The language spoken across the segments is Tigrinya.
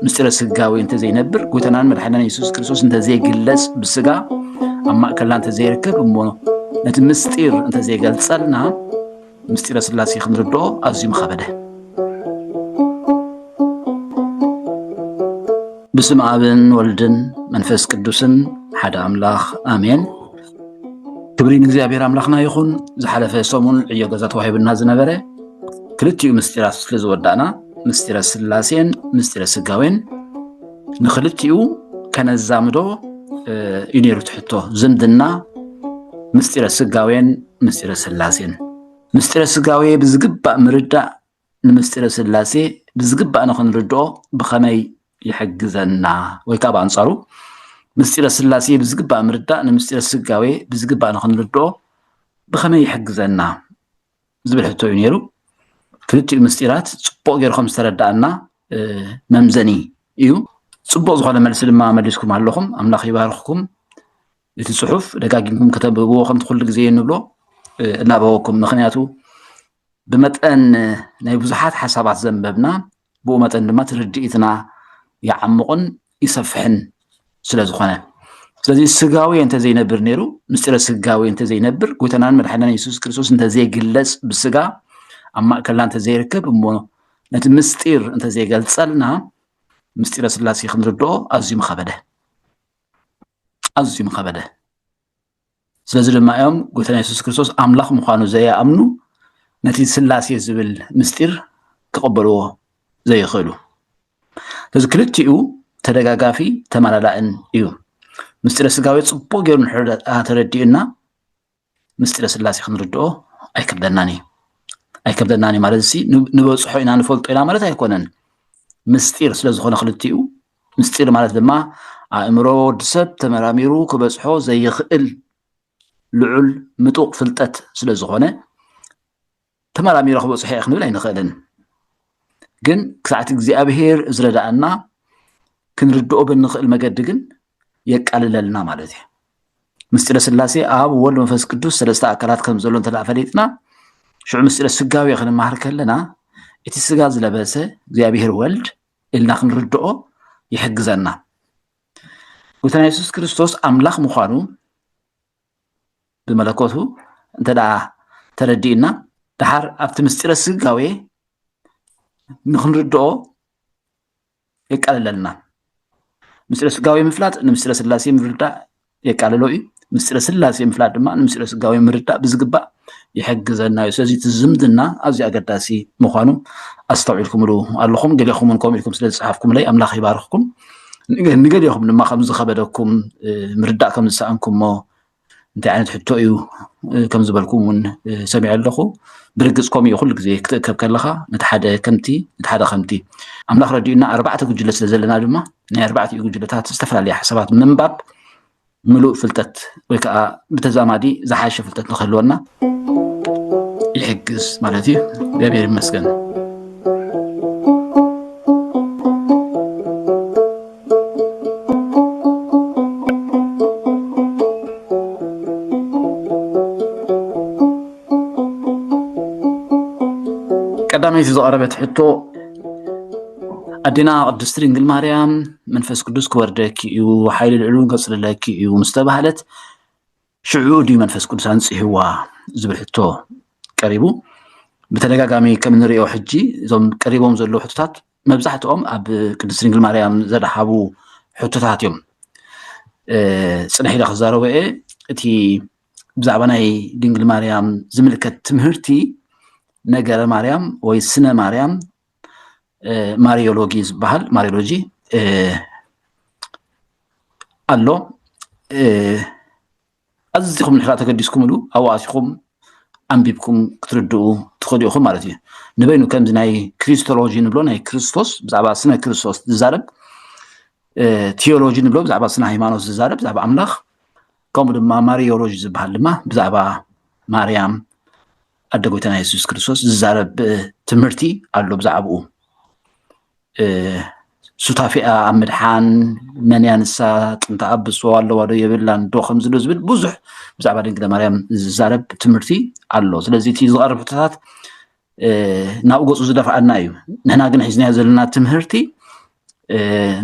ምስጢረ ስጋዊ እንተዘይነብር ጎይታናን መድሓኒና የሱስ ክርስቶስ እንተዘይግለጽ ብስጋ ኣብ ማእከልና እንተዘይርከብ እሞ ነቲ ምስጢር እንተዘይገልጸልና ምስጢረ ስላሴ ክንርድኦ ኣዝዩ ምኸበደ ብስም ኣብን ወልድን መንፈስ ቅዱስን ሓደ ኣምላኽ ኣሜን ክብሪ ንእግዚኣብሔር ኣምላኽና ይኹን ዝሓለፈ ሰሙን ዕዮ ገዛ ተዋሂብና ዝነበረ ክልቲኡ ምስጢራት ስለ ዝወዳእና ምስጢረ ስላሴን ምስጢረ ስጋዌን ንክልቲኡ ከነዛምዶ እዩ ነይሩ ትሕቶ ዝምድና ምስጢረ ስጋዌን ምስጢረ ስላሴን ምስጢረ ስጋዌ ብዝግባእ ምርዳእ ንምስጢረ ስላሴ ብዝግባእ ንኽንርድኦ ብኸመይ ይሕግዘና? ወይ ከዓ ብኣንፃሩ ምስጢረ ስላሴ ብዝግባእ ምርዳእ ንምስጢረ ስጋዌ ብዝግባእ ንኽንርድኦ ብኸመይ ይሕግዘና? ዝብል ሕቶ እዩ ነይሩ። ክልቲኡ ምስጢራት ፅቡቅ ጌርኩም ዝተረዳእና መምዘኒ እዩ ፅቡቅ ዝኾነ መልሲ ድማ መሊስኩም ኣለኹም ኣምላኽ ይባርኽኩም እቲ ፅሑፍ ደጋጊምኩም ከተንብብዎ ከምቲ ኩሉ ግዜ እንብሎ እናበወኩም ምክንያቱ ብመጠን ናይ ብዙሓት ሓሳባት ዘንበብና ብኡ መጠን ድማ ትርድኢትና ይዓምቑን ይሰፍሕን ስለ ዝኾነ ስለዚ ስጋዊ እንተዘይነብር ነይሩ ምስጢረ ስጋዊ እንተዘይነብር ጎይታናን መድሓናን የሱስ ክርስቶስ እንተዘይግለፅ ብስጋ ኣብ ማእከልና እንተዘይርከብ እሞ ነቲ ምስጢር እንተዘይገልፀልና ምስጢረ ስላሴ ክንርድኦ ኣዝዩ ምኸበደ ኣዝዩ ምኸበደ ስለዚ ድማ እዮም ጎይታና የሱስ ክርስቶስ ኣምላኽ ምዃኑ ዘይኣምኑ ነቲ ስላሴ ዝብል ምስጢር ክቕበልዎ ዘይኽእሉ እዚ ክልቲኡ ተደጋጋፊ ተመላላእን እዩ ምስጢረ ስጋዊ ፅቡቅ ገይሩ ተረዲኡና ምስጢረ ስላሴ ክንርድኦ ኣይከብደናን እዩ ኣይከብደናን እዩ ማለት ሲ ንበፅሖ ኢና ንፈልጦ ኢና ማለት ኣይኮነን ምስጢር ስለዝኾነ ክልቲኡ ምስጢር ማለት ድማ ኣእምሮ ወዲ ሰብ ተመራሚሩ ክበጽሖ ዘይኽእል ልዑል ምጡቕ ፍልጠት ስለ ዝኾነ ተመራሚረ ክበጽሖ እየ ክንብል ኣይንኽእልን ግን ክሳዕቲ እግዚኣብሄር ዝረዳእና ክንርድኦ ብንኽእል መገዲ ግን የቃልለልና ማለት እዩ ምስጢረ ስላሴ ኣብ ወልድ መንፈስ ቅዱስ ሰለስተ ኣካላት ከም ዘሎ እንተ ፈሊጥና ሽዑ ምስጢረ ስጋዊ ክንመሃር ከለና እቲ ስጋ ዝለበሰ እግዚኣብሄር ወልድ ኢልና ክንርድኦ ይሕግዘና። ጎይታና የሱስ ክርስቶስ ኣምላኽ ምዃኑ ብመለኮቱ እንተ ተረዲእና ድሓር ኣብቲ ምስጢረ ስጋዌ ንክንርድኦ የቃልለልና። ምስጢረ ስጋዌ ምፍላጥ ንምስጢረ ስላሴ ምርዳእ የቃልሎ እዩ። ምስጢረ ስላሴ ምፍላጥ ድማ ንምስጢረ ስጋዊ ምርዳእ ብዝግባእ ይሕግዘና እዩ። ስለዚ እቲ ዝምድና ኣዝዩ ኣገዳሲ ምዃኑ ኣስተውዒልኩምሉ ኣለኹም። ገሌኹም እውን ከምኡ ኢልኩም ስለ ዝፀሓፍኩምለይ ኣምላኽ ይባርኽኩም። ንገሌኹም ድማ ከም ዝኸበደኩም ምርዳእ ከም ዝሰኣንኩሞ እንታይ ዓይነት ሕቶ እዩ ከም ዝበልኩም እውን ሰሚዐ ኣለኹ። ብርግፅ ከምኡ እዩ ኩሉ ግዜ ክትእከብ ከለኻ ነቲ ሓደ ከምቲ ነቲ ሓደ ከምቲ ኣምላኽ ረዲኡና ኣርባዕተ ጉጅለ ስለ ዘለና ድማ ናይ ኣርባዕቲኡ ጉጅለታት ዝተፈላለየ ሓሳባት ምንባብ ምሉእ ፍልጠት ወይ ከዓ ብተዛማዲ ዝሓሸ ፍልጠት ንክህልወና ይሕግዝ ማለት እዩ እግዚኣብሔር ይመስገን ቀዳመይቲ ዝቐረበት ሕቶ ኣዴና ቅድስቲ ድንግል ማርያም መንፈስ ቅዱስ ክወርደኪ እዩ ሓይሊ ልዕሉን ከፅልለኪ እዩ ምስ ተባህለት ሽዑ ድዩ መንፈስ ቅዱስ ኣንፅህዋ ዝብል ሕቶ ቀሪቡ ብተደጋጋሚ ከም እንሪኦ ሕጂ እዞም ቀሪቦም ዘለዉ ሕቶታት መብዛሕትኦም ኣብ ቅድስቲ ድንግል ማርያም ዘድሃቡ ሕቶታት እዮም ፅንሕ ኢለ ክዛረቦ እየ እቲ ብዛዕባ ናይ ድንግል ማርያም ዝምልከት ትምህርቲ ነገረ ማርያም ወይ ስነ ማርያም ማሪዮሎጊ ዝበሃል ማሪዮሎጂ ኣሎ ኣዝኹም ንሕራ ተገዲስኩምሉ ኣብኡ ኣትኹም ኣንቢብኩም ክትርድኡ ትኽእሉ ኢኹም ማለት እዩ ንበይኑ ከምዚ ናይ ክሪስቶሎጂ ንብሎ ናይ ክርስቶስ ብዛዕባ ስነ ክርስቶስ ዝዛረብ ቴዎሎጂ ንብሎ ብዛዕባ ስነ ሃይማኖት ዝዛረብ ብዛዕባ ኣምላኽ ከምኡ ድማ ማሪዮሎጂ ዝበሃል ድማ ብዛዕባ ማርያም ኣደ ጎይታና የሱስ ክርስቶስ ዝዛረብ ትምህርቲ ኣሎ ብዛዕባኡ ሱታፊኣ ኣብ ምድሓን መንያ ንሳ ጥንታ ኣብ ብስዋ ኣለዋ ዶ የብላን ዶ ከምዚ ዶ ዝብል ብዙሕ ብዛዕባ ድንግለ ማርያም ዝዛረብ ትምህርቲ ኣሎ ስለዚ እቲ ዝቐርብ ሕቶታት ናብ ገፁ ዝደፍኣና እዩ ንሕና ግን ሒዝናዮ ዘለና ትምህርቲ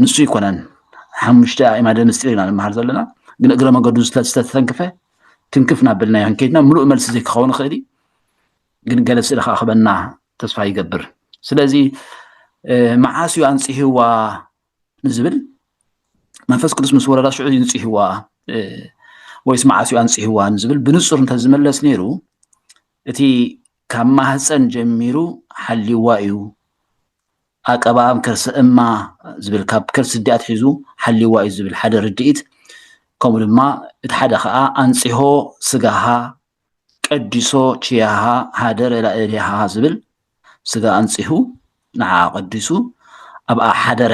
ንሱ ኣይኮነን ሓሙሽተ ኣእማደ ምስጢር ኢና ንመሃር ዘለና ግን እግረ መገዱ ዝተተንክፈ ትንክፍ ናበልናዮ ከይድና ምሉእ መልሲ ዘይክኸውን ይኽእል እዩ ግን ገለ ስእሊ ከዓ ክበና ተስፋ ይገብር ስለዚ መዓስ እዩ ኣንፅህዋ ንዝብል መንፈስ ቅዱስ ምስ ወረዳ ሽዑ ይንፅህዋ ወይስ መዓስ እዩ ኣንፅህዋ ንዝብል ብንፁር እንተዝመለስ ነይሩ እቲ ካብ ማህጸን ጀሚሩ ሓልይዋ እዩ ኣቀባእም ከርሰ እማ ዝብል ካብ ከርሲ ዲኣ ትሒዙ ሓልይዋ እዩ ዝብል ሓደ ርድኢት ከምኡ ድማ እቲ ሓደ ከዓ ኣንጽሆ ስጋሃ ቀዲሶ ችያሃ ሃደረ ላእሌሃ ዝብል ስጋ ኣንጽሁ ንዓኣ ቀዲሱ ኣብኣ ሓደረ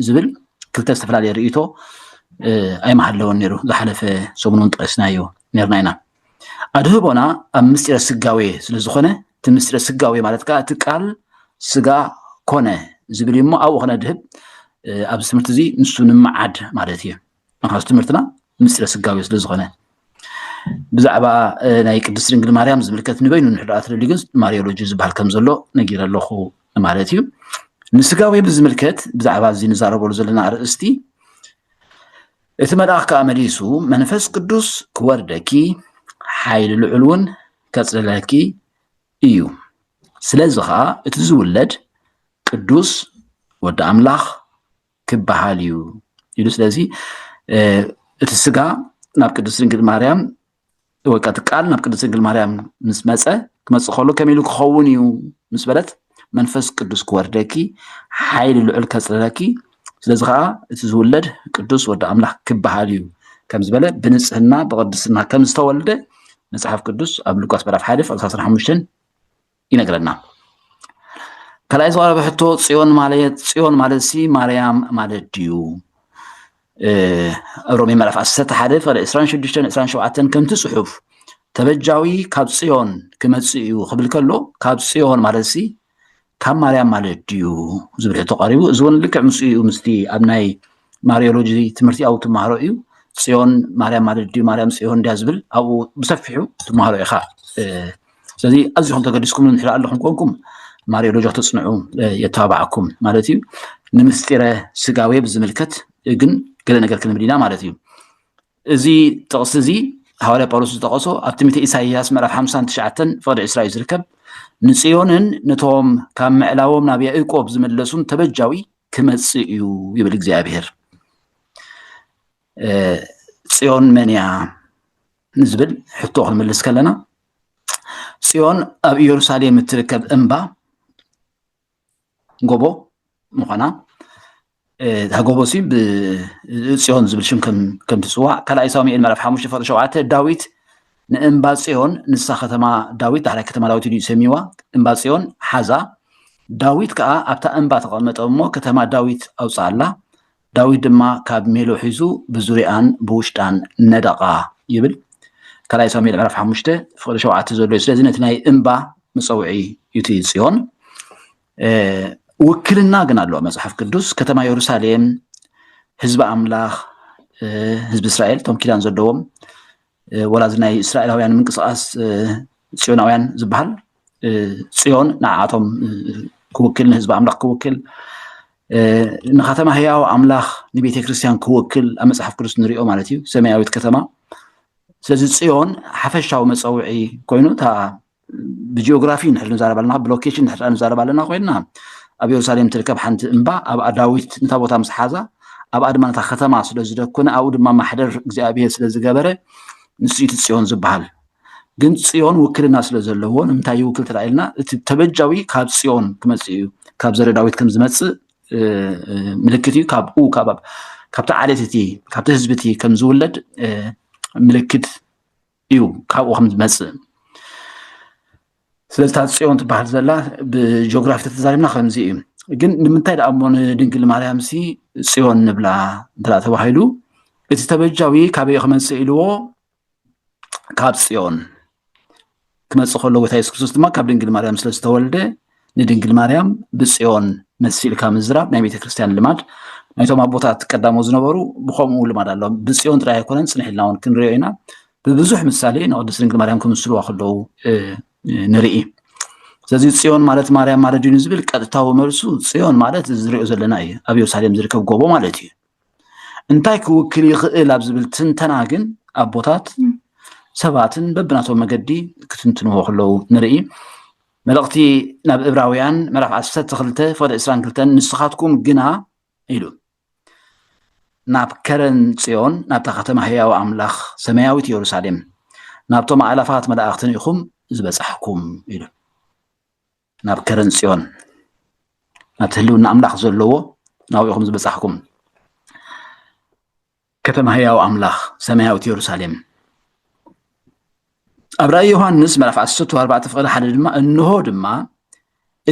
ዝብል ክልተ ዝተፈላለየ ርእይቶ ኣይመሃለወን ነይሩ ዝሓለፈ ሰሙን እውን ጠቂስናዮ ነርና ኢና ኣድህቦና ኣብ ምስጢረ ስጋዌ ስለ ዝኾነ እቲ ምስጢረ ስጋዌ ማለት ከዓ እቲ ቃል ስጋ ኮነ ዝብል እሞ ኣብኡ ክነድህብ ኣብዚ ትምህርቲ እዚ ንሱ ንምዓድ ማለት እዩ ምክንያቱ ትምህርትና ምስጢረ ስጋዊ ስለ ዝኾነ ብዛዕባ ናይ ቅድስት ድንግል ማርያም ዝምልከት ንበይኑ ንሕድኣ ትደልዩ ግን ማርዮሎጂ ዝበሃል ከም ዘሎ ነጊረ ኣለኹ ማለት እዩ ንስጋዊ ብዝምልከት ብዛዕባ እዚ ንዛረበሉ ዘለና ኣርእስቲ እቲ መልኣኽ ከዓ መሊሱ መንፈስ ቅዱስ ክወርደኪ ሓይሊ ልዑል እውን ከፅልለኪ እዩ ስለዚ ከዓ እቲ ዝውለድ ቅዱስ ወዲ ኣምላኽ ክበሃል እዩ ኢሉ ስለዚ እቲ ስጋ ናብ ቅድስት ድንግል ማርያም ወይ ከዓ እቲ ቃል ናብ ቅድስት ድንግል ማርያም ምስ መፀ ክመፅእ ከሎ ከመይ ኢሉ ክኸውን እዩ ምስ በለት መንፈስ ቅዱስ ክወርደኪ ሓይሊ ልዑል ከፅልለኪ ስለዚ ከዓ እቲ ዝውለድ ቅዱስ ወዲ ኣምላኽ ክበሃል እዩ ከም ዝበለ ብንፅህና ብቅድስና ከም ዝተወልደ መፅሓፍ ቅዱስ ኣብ ሉቃስ ምዕራፍ ሓደ ፍቅሪ 15 ይነግረና ካልኣይ ዝቀረበ ሕቶ ፅዮን ማለት ፅዮን ማለት ሲ ማርያም ማለት ድዩ ሮሜ ምዕራፍ 11 ሓደ ፍቅሪ 26 27 ከምቲ ፅሑፍ ተበጃዊ ካብ ፅዮን ክመፅእ እዩ ክብል ከሎ ካብ ፅዮን ማለት ሲ ካብ ማርያም ማለት ድዩ ዝብል ሕቶ ቀሪቡ እዚ እውን ልክዕ ምስኡ እዩ ምስቲ ኣብ ናይ ማርዮሎጂ ትምህርቲኣዊ ትመሃሮ እዩ ፅዮን ማርያም ማለት ድዩ ማርያም ፅዮን ድያ ዝብል ኣብኡ ብሰፊሑ ትመሃሮ ኢኻ ስለዚ ኣዝዩ ከም ተገዲስኩም ንድሕሪ ኣለኹም ኮንኩም ማርዮሎጂ ክተፅንዑ የተባብዓኩም ማለት እዩ ንምስጢረ ስጋዌ ብዝምልከት ግን ገለ ነገር ክንብል ኢና ማለት እዩ እዚ ጥቕሲ እዚ ሃዋርያ ጳውሎስ ዝጠቐሶ ኣብ ትምህርቲ ኢሳይያስ ምዕራፍ 59 ፍቕዲ ዕስራ እዩ ዝርከብ ንፅዮንን ነቶም ካብ ምዕላዎም ናብ ያእቆብ ዝመለሱን ተበጃዊ ክመጽእ እዩ ይብል እግዚኣብሄር። ጽዮን መን እያ ንዝብል ሕቶ ክንምልስ ከለና ጽዮን ኣብ ኢየሩሳሌም እትርከብ እምባ ጎቦ ምዃና እታ ጎቦ ሲ ብጽዮን ዝብል ሽም ከም ትፅዋዕ ካልኣይ ሳሙኤል ምዕራፍ ሓሙሽተ ፍቅዲ ሸውዓተ ዳዊት ንእምባ ጽዮን፣ ንሳ ኸተማ ዳዊት፣ ዳሕራይ ከተማ ዳዊት ኢሉ ሰምይዋ፣ እምባ ጽዮን ሓዛ፣ ዳዊት ከኣ ኣብታ እምባ ተቐመጠ እሞ፣ ከተማ ዳዊት ኣውጽኣላ፣ ዳዊት ድማ ካብ ሜሎ ሒዙ ብዙርያኣን ብውሽጣን ነደቓ ይብል። ካልኣይ ሳሙኤል ምዕራፍ ሓሙሽተ ፍቕዲ ሸውዓተ ዘሎ እዩ። ስለዚ ነቲ ናይ እምባ መጸውዒ እዩ እቲ ጽዮን። ውክልና ግን ኣለዎ መጽሓፍ ቅዱስ ከተማ የሩሳሌም ህዝቢ ኣምላኽ ህዝቢ እስራኤል እቶም ኪዳን ዘለዎም ወላ እዚ ናይ እስራኤላውያን ምንቅስቃስ ፅዮናውያን ዝበሃል ፅዮን ንዓቶም ክውክል ንህዝቢ ኣምላኽ ክውክል ንከተማ ህያው ኣምላኽ ንቤተ ክርስቲያን ክውክል ኣብ መፅሓፍ ቅዱስ ንሪኦ ማለት እዩ ሰማያዊት ከተማ ስለዚ ፅዮን ሓፈሻዊ መፀውዒ ኮይኑ እታ ብጂኦግራፊ ንሕል ንዛረብ ኣለና ብሎኬሽን ንሕል ንዛረብ ኣለና ኮይና ኣብ የሩሳሌም ትርከብ ሓንቲ እምባ ኣብኣ ዳዊት ነታ ቦታ ምስ ሓዛ ኣብኣ ድማ ነታ ከተማ ስለ ዝደኮነ ኣብኡ ድማ ማሕደር እግዚኣብሄር ስለ ዝገበረ ንሱ እቲ ፅዮን ዝበሃል ግን ፅዮን ውክልና ስለ ዘለዎ ንምንታይ ይውክል ተላኢልና እቲ ተበጃዊ ካብ ፅዮን ክመፅእ እዩ ካብ ዘረ ዳዊት ከም ዝመፅእ ምልክት እዩ ካብኡ ካብቲ ዓሌት እቲ ካብቲ ህዝቢ እቲ ከም ዝውለድ ምልክት እዩ ካብኡ ከም ዝመፅእ ስለዚ እታ ፅዮን ትበሃል ዘላ ብጂኦግራፊ ተተዛሪብና ከምዚ እዩ ግን ንምንታይ ደኣ እሞ ንድንግል ማርያም ሲ ፅዮን ንብላ እንተ ተባሂሉ እቲ ተበጃዊ ካበይ ክመፅእ ኢልዎ ካብ ፅዮን ክመፅእ ከሎ ጎይታ የሱስ ክርስቶስ ድማ ካብ ድንግል ማርያም ስለ ዝተወልደ ንድንግል ማርያም ብጽዮን መሲልካ ምዝራብ ናይ ቤተክርስትያን ልማድ ናይቶም ኣቦታት ቀዳሞ ዝነበሩ ብከምኡ ልማድ ኣሎ ብጽዮን ጥራይ ኣይኮነን ጽንሕ ኢልና እውን ክንሪኦ ኢና ብብዙሕ ምሳሌ ንቅድስት ድንግል ማርያም ክምስልዋ ከለዉ ንርኢ ስለዚ ጽዮን ማለት ማርያም ማለት ድዩ ዝብል ቀጥታዊ መልሱ ጽዮን ማለት እዚ ዝሪኦ ዘለና እዩ ኣብ የሩሳሌም ዝርከብ ጎቦ ማለት እዩ እንታይ ክውክል ይኽእል ኣብ ዝብል ትንተና ግን ኣቦታት ሰባትን በብናቶም መገዲ ክትንትንዎ ከለዉ ንርኢ መልእኽቲ ናብ እብራውያን ምዕራፍ ዓሰርተ ክልተ ፍቕዲ ዕስራን ክልተን ንስኻትኩም ግና ኢሉ ናብ ከረን ጽዮን ናብታ ከተማ ህያው ኣምላኽ ሰማያዊት የሩሳሌም ናብቶም ኣእላፋት መላእኽትን ኢኹም ዝበጻሕኩም ኢሉ ናብ ከረን ጽዮን ናብቲ ህልውና ኣምላኽ ዘለዎ ናብኡ ኢኹም ዝበጻሕኩም ከተማ ህያው ኣምላኽ ሰማያዊት የሩሳሌም ኣብ ራእይ ዮሃንስ ምዕራፍ 14 ፍቕዲ ሓደ ድማ እንሆ ድማ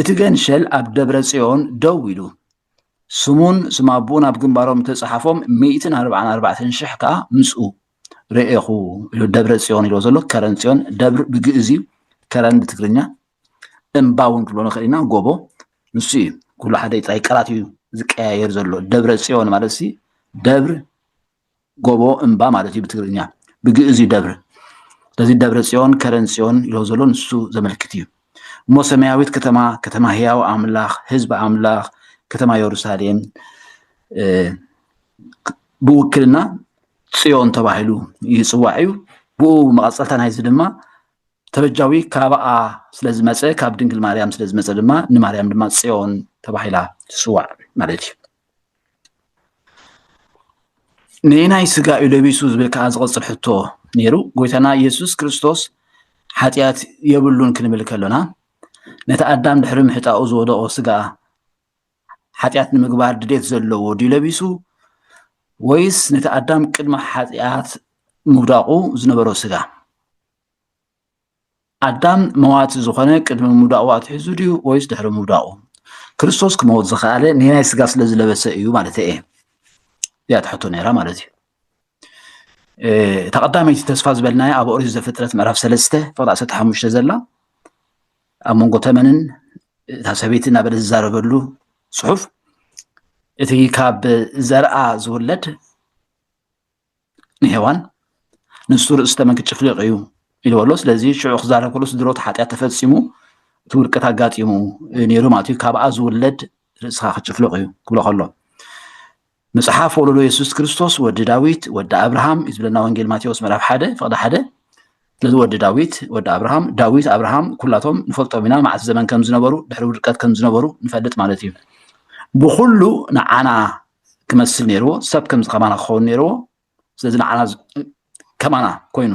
እቲ ገንሸል ኣብ ደብረ ጽዮን ደው ኢሉ ስሙን ስም ኣቦኡን ኣብ ግንባሮም ተጻሓፎም ሚእትን ኣርባዓን ኣርባዕተን ሽሕ ከዓ ምስኡ ርኤኹ ኢሉ ደብረ ጽዮን ኢልዎ ዘሎ ከረን ጽዮን ደብር ብግእዝ እዩ ከረን ብትግርኛ እምባ እውን ክንብሎ ንኽእል ኢና ጎቦ ንሱ እዩ ኩሉ ሓደ ጥራይ ቃላት እዩ ዝቀያየር ዘሎ ደብረ ፅዮን ማለት ሲ ደብር ጎቦ እምባ ማለት እዩ ብትግርኛ ብግእዝ እዩ ደብር ስለዚ ደብረ ፅዮን ከረን ፅዮን ኢሎ ዘሎ ንሱ ዘመልክት እዩ እሞ ሰማያዊት ከተማ ከተማ ህያው ኣምላኽ ህዝቢ ኣምላኽ ከተማ የሩሳሌም ብውክልና ፅዮን ተባሂሉ ይፅዋዕ እዩ ብኡ መቐፀልታ ናይዚ ድማ ተበጃዊ ካባኣ ስለ ዝመፀ ካብ ድንግል ማርያም ስለ ዝመፀ ድማ ንማርያም ድማ ፅዮን ተባሂላ ትስዋዕ ማለት እዩ ንናይ ስጋ እዩ ለቢሱ ዝብል ከዓ ዝቐፅል ሕቶ ነይሩ ጎይታና ኢየሱስ ክርስቶስ ሓጢኣት የብሉን ክንብል ከሎና ነቲ ኣዳም ድሕሪ ምሕጣኡ ዝወደቆ ስጋ ሓጢኣት ንምግባር ድሌት ዘለዎ ድዩ ለቢሱ ወይስ ነቲ ኣዳም ቅድሚ ሓጢኣት ምውዳቑ ዝነበሮ ስጋ ኣዳም መዋቲ ዝኾነ ቅድሚ ምውዳቑ ኣትሒዙ ድዩ ወይስ ድሕሪ ምውዳቑ? ክርስቶስ ክመውት ዝኸኣለ ኔናይ ስጋ ስለ ዝለበሰ እዩ ማለተይ እየ እያ ትሕቶ ነይራ ማለት እዩ እታ ቀዳመይቲ ተስፋ ዝበልናያ ኣብ ኦሪት ዘፍጥረት ምዕራፍ ሰለስተ ፍቕዲ ዓሰርተ ሓሙሽተ ዘላ ኣብ መንጎ ተመንን እታ ሰበይቲ እናበለ ዝዛረበሉ ፅሑፍ እቲ ካብ ዘርኣ ዝውለድ ንሔዋን ንሱ ርእሲ ተመን ክጭፍልቕ እዩ ኢልበሎ ስለዚ ሽዑ ክዛረብ ከሎ ስድሮት ሓጢኣት ተፈፂሙ እቲ ውድቀት ኣጋጢሙ ነይሩ ማለት እዩ ካብኣ ዝውለድ ርእስኻ ክጭፍልቕ እዩ ክብሎ ከሎ መፅሓፍ ወለዶ የሱስ ክርስቶስ ወዲ ዳዊት ወዲ ኣብርሃም እዩ ዝብለና ወንጌል ማቴዎስ ምዕራፍ ሓደ ፍቕዲ ሓደ ስለዚ ወዲ ዳዊት ወዲ ኣብርሃም ዳዊት ኣብርሃም ኩላቶም ንፈልጦም ኢና መዓስ ዘመን ከም ዝነበሩ ድሕሪ ውድቀት ከም ዝነበሩ ንፈልጥ ማለት እዩ ብኩሉ ንዓና ክመስል ነይርዎ ሰብ ከምዚ ከማና ክኸውን ነይርዎ ስለዚ ንዓና ከማና ኮይኑ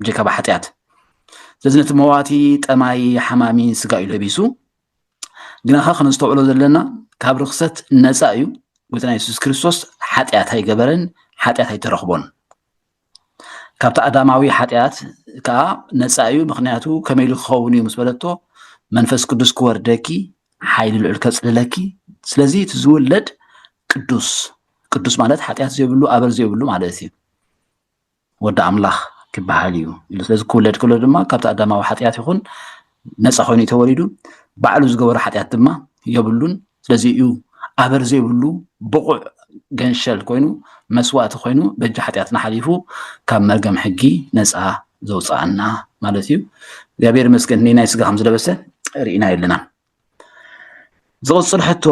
ብጀካ ብሓጢኣት ስለዚ ነቲ መዋቲ ጠማይ ሓማሚ ስጋ እዩ ለቢሱ ግና ኸ ከነስተውዕሎ ዘለና ካብ ርክሰት ነፃ እዩ ጎይታና የሱስ ክርስቶስ ሓጢኣት ኣይገበረን ሓጢኣት ኣይተረኽቦን ካብቲ ኣዳማዊ ሓጢኣት ከዓ ነፃ እዩ ምክንያቱ ከመይ ኢሉ ክኸውን እዩ ምስ በለቶ መንፈስ ቅዱስ ክወርደኪ ሓይሊ ልዑል ከፅልለኪ ስለዚ እቲ ዝውለድ ቅዱስ ቅዱስ ማለት ሓጢኣት ዘይብሉ ኣበር ዘይብሉ ማለት እዩ ወዲ ኣምላኽ ክበሃል እዩ ኢሉ ስለዚ ክውለድ ከሎ ድማ ካብቲ ኣዳማዊ ሓጢኣት ይኹን ነፃ ኮይኑ እዩ ተወሊዱ ባዕሉ ዝገበሮ ሓጢኣት ድማ የብሉን ስለዚ እዩ ኣበር ዘይብሉ ብቑዕ ገንሸል ኮይኑ መስዋእቲ ኮይኑ በጃ ሓጢኣትና ሓሊፉ ካብ መርገም ሕጊ ነፃ ዘውፅኣና ማለት እዩ እግዚኣብሔር መስገን ናይ ስጋ ከም ዝለበሰ ርኢና የለና ዝቕፅል ሕቶ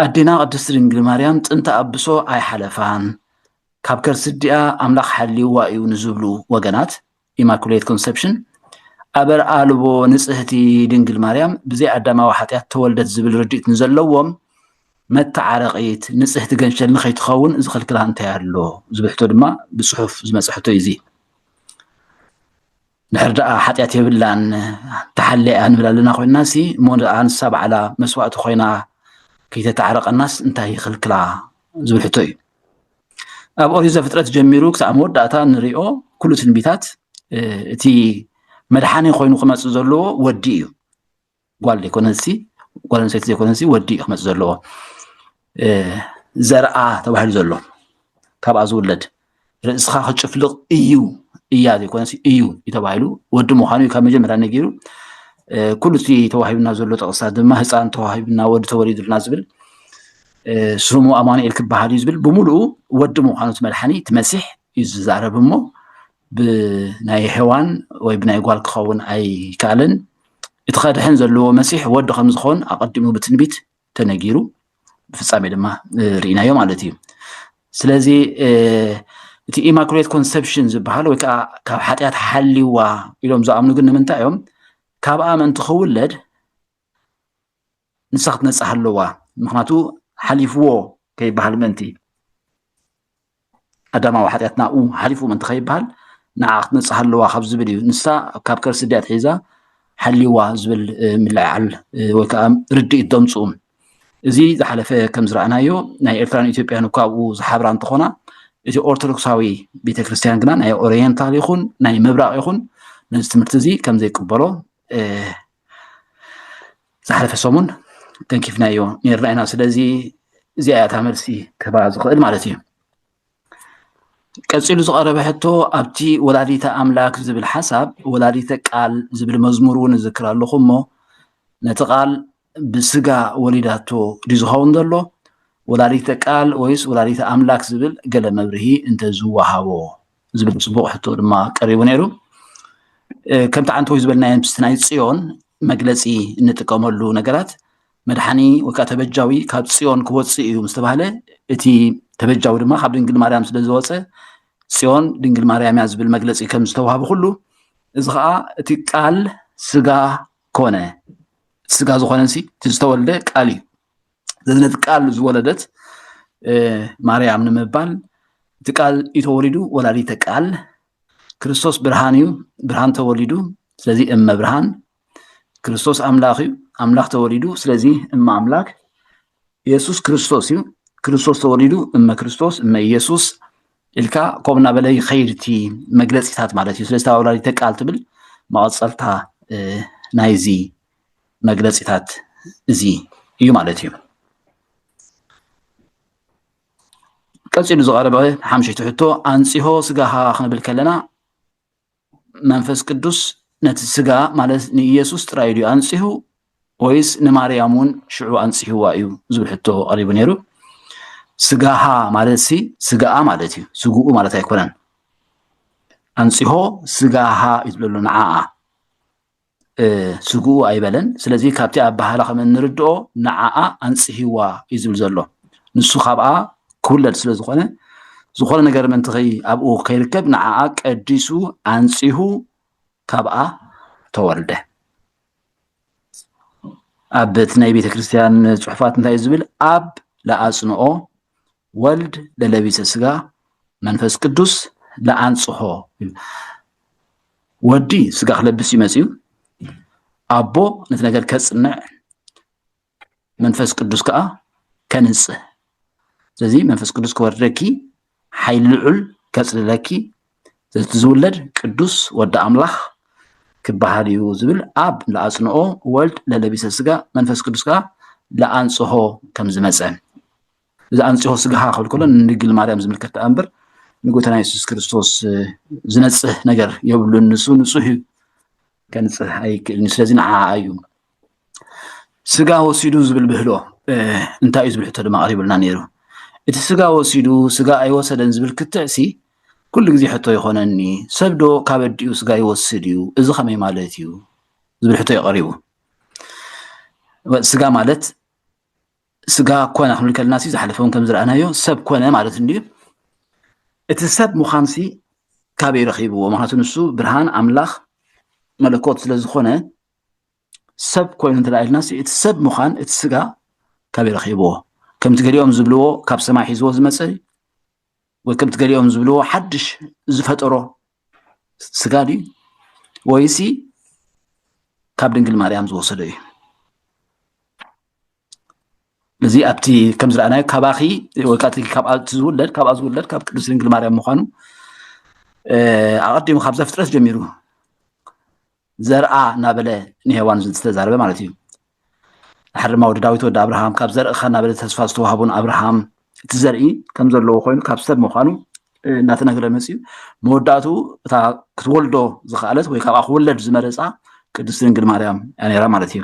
ኣዴና ቅድስቲ ድንግል ማርያም ጥንተ ኣብሶ ኣይሓለፋን ካብ ከርሲ ዲኣ ኣምላኽ ሓልይዋ እዩ ንዝብሉ ወገናት ኢማኩሌት ኮንሰፕሽን፣ ኣበር ኣልቦ ንጽህቲ ድንግል ማርያም ብዘይ ኣዳማዊ ሓጢኣት ተወልደት ዝብል ርድኢት ንዘለዎም መተዓረቒት ንጽህቲ ገንሸል ንኸይትኸውን ዝኽልክላ እንታይ ኣሎ ዝብል ሕቶ ድማ ብጽሑፍ ዝመጸ ሕቶ እዩ እዚ ድሕር ደኣ ሓጢኣት የብላን ተሓለያ ንብል ኣለና ኮይና ሲ እሞ ደኣ ንሳ በዓላ መስዋእቲ ኮይና ከይተተዓረቀናስ እንታይ ይኽልክላ ዝብል ሕቶ እዩ ኣብ ኦሪት ዘፍጥረት ጀሚሩ ክሳብ መወዳእታ ንሪኦ ኩሉ ትንቢታት እቲ መድሓኒ ኮይኑ ክመፅእ ዘለዎ ወዲ እዩ ጓል ዘይኮነሲ ጓል ኣንስተይቲ ዘይኮነሲ ወዲ እዩ ክመፅእ ዘለዎ ዘርኣ ተባሂሉ ዘሎ ካብኣ ዝውለድ ርእስኻ ክጭፍልቕ እዩ እያ ዘይኮነሲ እዩ እዩ ተባሂሉ ወዲ ምዃኑ እዩ ካብ መጀመርያ ነጊሩ ኩሉ እቲ ተዋሂብና ዘሎ ጥቕስታት ድማ ህፃን ተዋሂብና ወዲ ተወሊዱልና ዝብል ስሙ ኣማኑኤል ክበሃል እዩ ዝብል ብምሉኡ ወዲ ምዃኑ እቲ መድሓኒ እቲ መሲሕ እዩ ዝዛረብ እሞ ብናይ ሔዋን ወይ ብናይ ጓል ክኸውን ኣይከኣልን እቲ ከድሕን ዘለዎ መሲሕ ወዲ ከም ዝኸውን ኣቐዲሙ ብትንቢት ተነጊሩ ብፍፃሜ ድማ ርኢናዮ ማለት እዩ ስለዚ እቲ ኢማኩሌት ኮንሰፕሽን ዝበሃል ወይ ከዓ ካብ ሓጢኣት ሓሊዋ ኢሎም ዝኣምኑ ግን ንምንታይ እዮም ካብኣ መን ትኽውለድ ንሳ ክትነጽህ ኣለዋ ምክንያቱ ሓሊፍዎ ከይበሃል ምእንቲ ኣዳማዊ ሓጢኣት ናብኡ ሓሊፉ ምእንቲ ከይበሃል ንዓ ክትነጽህ ኣለዋ ካብ ዝብል እዩ ንሳ ካብ ከርሲ ድያ ትሒዛ ሓሊዋ ዝብል ምልዕዓል ወይ ከዓ ርድኢት ደምፅኡ እዚ ዝሓለፈ ከም ዝረኣናዮ ናይ ኤርትራን ኢትዮጵያን እኳ ኣብኡ ዝሓብራ እንትኾና እቲ ኦርቶዶክሳዊ ቤተክርስትያን ግና ናይ ኦሪየንታል ይኹን ናይ ምብራቕ ይኹን ነዚ ትምህርቲ እዚ ከም ዘይቅበሎ ዝሓለፈ ሰሙን ተንኪፍናዮ ነርና ኢና ስለዚ እዚኣ እታ መልሲ ክህባ ዝኽእል ማለት እዩ ቀፂሉ ዝቐረበ ሕቶ ኣብቲ ወላዲተ ኣምላክ ዝብል ሓሳብ ወላዲተ ቃል ዝብል መዝሙር እውን እዝክር ኣለኹ እሞ ነቲ ቃል ብስጋ ወሊዳቶ ድዩ ዝኸውን ዘሎ ወላዲተ ቃል ወይስ ወላዲተ ኣምላክ ዝብል ገለ መብርሂ እንተዝወሃቦ ዝብል ፅቡቕ ሕቶ ድማ ቀሪቡ ነይሩ ከምቲ ዓንተወይ ዝበልናዮ ምስቲ ናይ ፅዮን መግለፂ እንጥቀመሉ ነገራት መድሓኒ ወይ ከዓ ተበጃዊ ካብ ፅዮን ክወፅእ እዩ ምስ ተባሃለ እቲ ተበጃዊ ድማ ካብ ድንግል ማርያም ስለ ዝወፀ ፅዮን ድንግል ማርያም እያ ዝብል መግለፂ ከም ዝተዋሃበ ኩሉ እዚ ከዓ እቲ ቃል ስጋ ኮነ ስጋ ዝኾነ እቲ ዝተወልደ ቃል እዩ ዘዝነት ቃል ዝወለደት ማርያም ንምባል እቲ ቃል እዩ ተወሊዱ ወላዲተ ቃል ክርስቶስ ብርሃን እዩ ብርሃን ተወሊዱ ስለዚ እመ ብርሃን ክርስቶስ ኣምላኽ እዩ ኣምላኽ ተወሊዱ ስለዚ እመ ኣምላክ የሱስ ክርስቶስ እዩ ክርስቶስ ተወሊዱ እመ ክርስቶስ እመ ኢየሱስ ኢልካ ከምኡ እናበለ ይኸይድ እቲ መግለፂታት ማለት እዩ ስለዚ ወላዲተ ቃል ትብል መቐፀልታ ናይዚ መግለፂታት እዚ እዩ ማለት እዩ። ቀፂሉ ዝቐረበ ሓምሸይቲ ሕቶ ኣንፂሆ ስጋኻ ክንብል ከለና መንፈስ ቅዱስ ነቲ ስጋ ማለት ንኢየሱስ ጥራይ ድዩ ኣንፂሁ ወይስ ንማርያም እውን ሽዑ ኣንፂህዋ እዩ ዝብል ሕቶ ቀሪቡ ነይሩ። ስጋሃ ማለት ሲ ስጋኣ ማለት እዩ፣ ስግኡ ማለት ኣይኮነን። ኣንፂሆ ስጋሃ እዩ ትብለሉ ንዓኣ ስግኡ ኣይበለን። ስለዚ ካብቲ ኣበሃህላ ከም እንርድኦ ንዓኣ ኣንጽሂዋ እዩ ዝብል ዘሎ። ንሱ ካብኣ ክውለድ ስለ ዝኾነ ዝኾነ ነገር ምእንቲ ከይ ኣብኡ ከይርከብ ንዓኣ ቀዲሱ ኣንጺሁ ካብኣ ተወልደ። ኣብ እቲ ናይ ቤተ ክርስቲያን ጽሑፋት እንታይ እዩ ዝብል? ኣብ ለኣጽንኦ ወልድ ለለቢሰ ስጋ መንፈስ ቅዱስ ለኣንጽሖ ወዲ ስጋ ክለብስ እዩ መጽዩ ኣቦ ነቲ ነገር ከጽንዕ መንፈስ ቅዱስ ከዓ ከንጽህ ስለዚ መንፈስ ቅዱስ ክወርደኪ ሓይል ልዑል ከጽልለኪ ዘቲ ዝውለድ ቅዱስ ወዲ ኣምላኽ ክበሃል እዩ ዝብል ኣብ ለኣጽንኦ ወልድ ለለቢሰ ስጋ መንፈስ ቅዱስ ከዓ ለኣንጽሆ ከም ዝመፀ እዚ ኣንጽሆ ስጋኻ ክብል ከሎ ንድንግል ማርያም ዝምልከት ደኣ እምበር ንጎይታና የሱስ ክርስቶስ ዝነጽህ ነገር የብሉን ንሱ ንጹህ እዩ ከንጽህ ኣይክእልን እዩ ስለዚ ንዓ እዩ ስጋ ወሲዱ ዝብል ብህሎ እንታይ እዩ ዝብል ሕቶ ድማ ቀሪቡልና ነይሩ እቲ ስጋ ወሲዱ ስጋ ኣይወሰደን ዝብል ክትዕሲ ኩሉ ግዜ ሕቶ ይኾነኒ ሰብ ዶ ካብ ኣዲኡ ስጋ ይወስድ እዩ እዚ ከመይ ማለት እዩ ዝብል ሕቶ እዩ ቀሪቡ ስጋ ማለት ስጋ ኮነ ክንብል ከለና ዝሓለፈ እውን ከምዝረኣናዮ ሰብ ኮነ ማለት እንድዩ እቲ ሰብ ምዃንሲ ካበይ ረኺብዎ ምክንያቱ ንሱ ብርሃን ኣምላኽ መለኮት ስለ ዝኾነ ሰብ ኮይኑ እንተለኣልና እቲ ሰብ ምዃን እቲ ስጋ ካበይ ረኺብዎ ከምቲ ገሊኦም ዝብልዎ ካብ ሰማይ ሒዝዎ ዝመፀ ወይ ከምቲ ገሊኦም ዝብልዎ ሓድሽ ዝፈጠሮ ስጋ ድዩ ወይሲ ካብ ድንግል ማርያም ዝወሰዶ እዩ እዚ ኣብቲ ከም ዝረኣናዮ ካባኺ ወይ ካብቲ ካብኣቲ ዝውለድ ካብኣ ዝውለድ ካብ ቅዱስ ድንግል ማርያም ምዃኑ ኣቐዲሙ ካብ ዘፍጥረት ጀሚሩ ዘርኣ እናበለ ንሄዋን ዝተዛረበ ማለት እዩ። ድሓር ድማ ወዲ ዳዊት ወዲ ኣብርሃም ካብ ዘርእኻ እናበለ ተስፋ ዝተዋህቦ ንኣብርሃም እቲ ዘርኢ ከም ዘለዎ ኮይኑ ካብ ሰብ ምዃኑ እናተነገረ መፅኡ መወዳእትኡ እታ ክትወልዶ ዝኸኣለት ወይ ካብኣ ክወለድ ዝመረፃ ቅድስቲ ድንግል ማርያም እያ ነይራ ማለት እዩ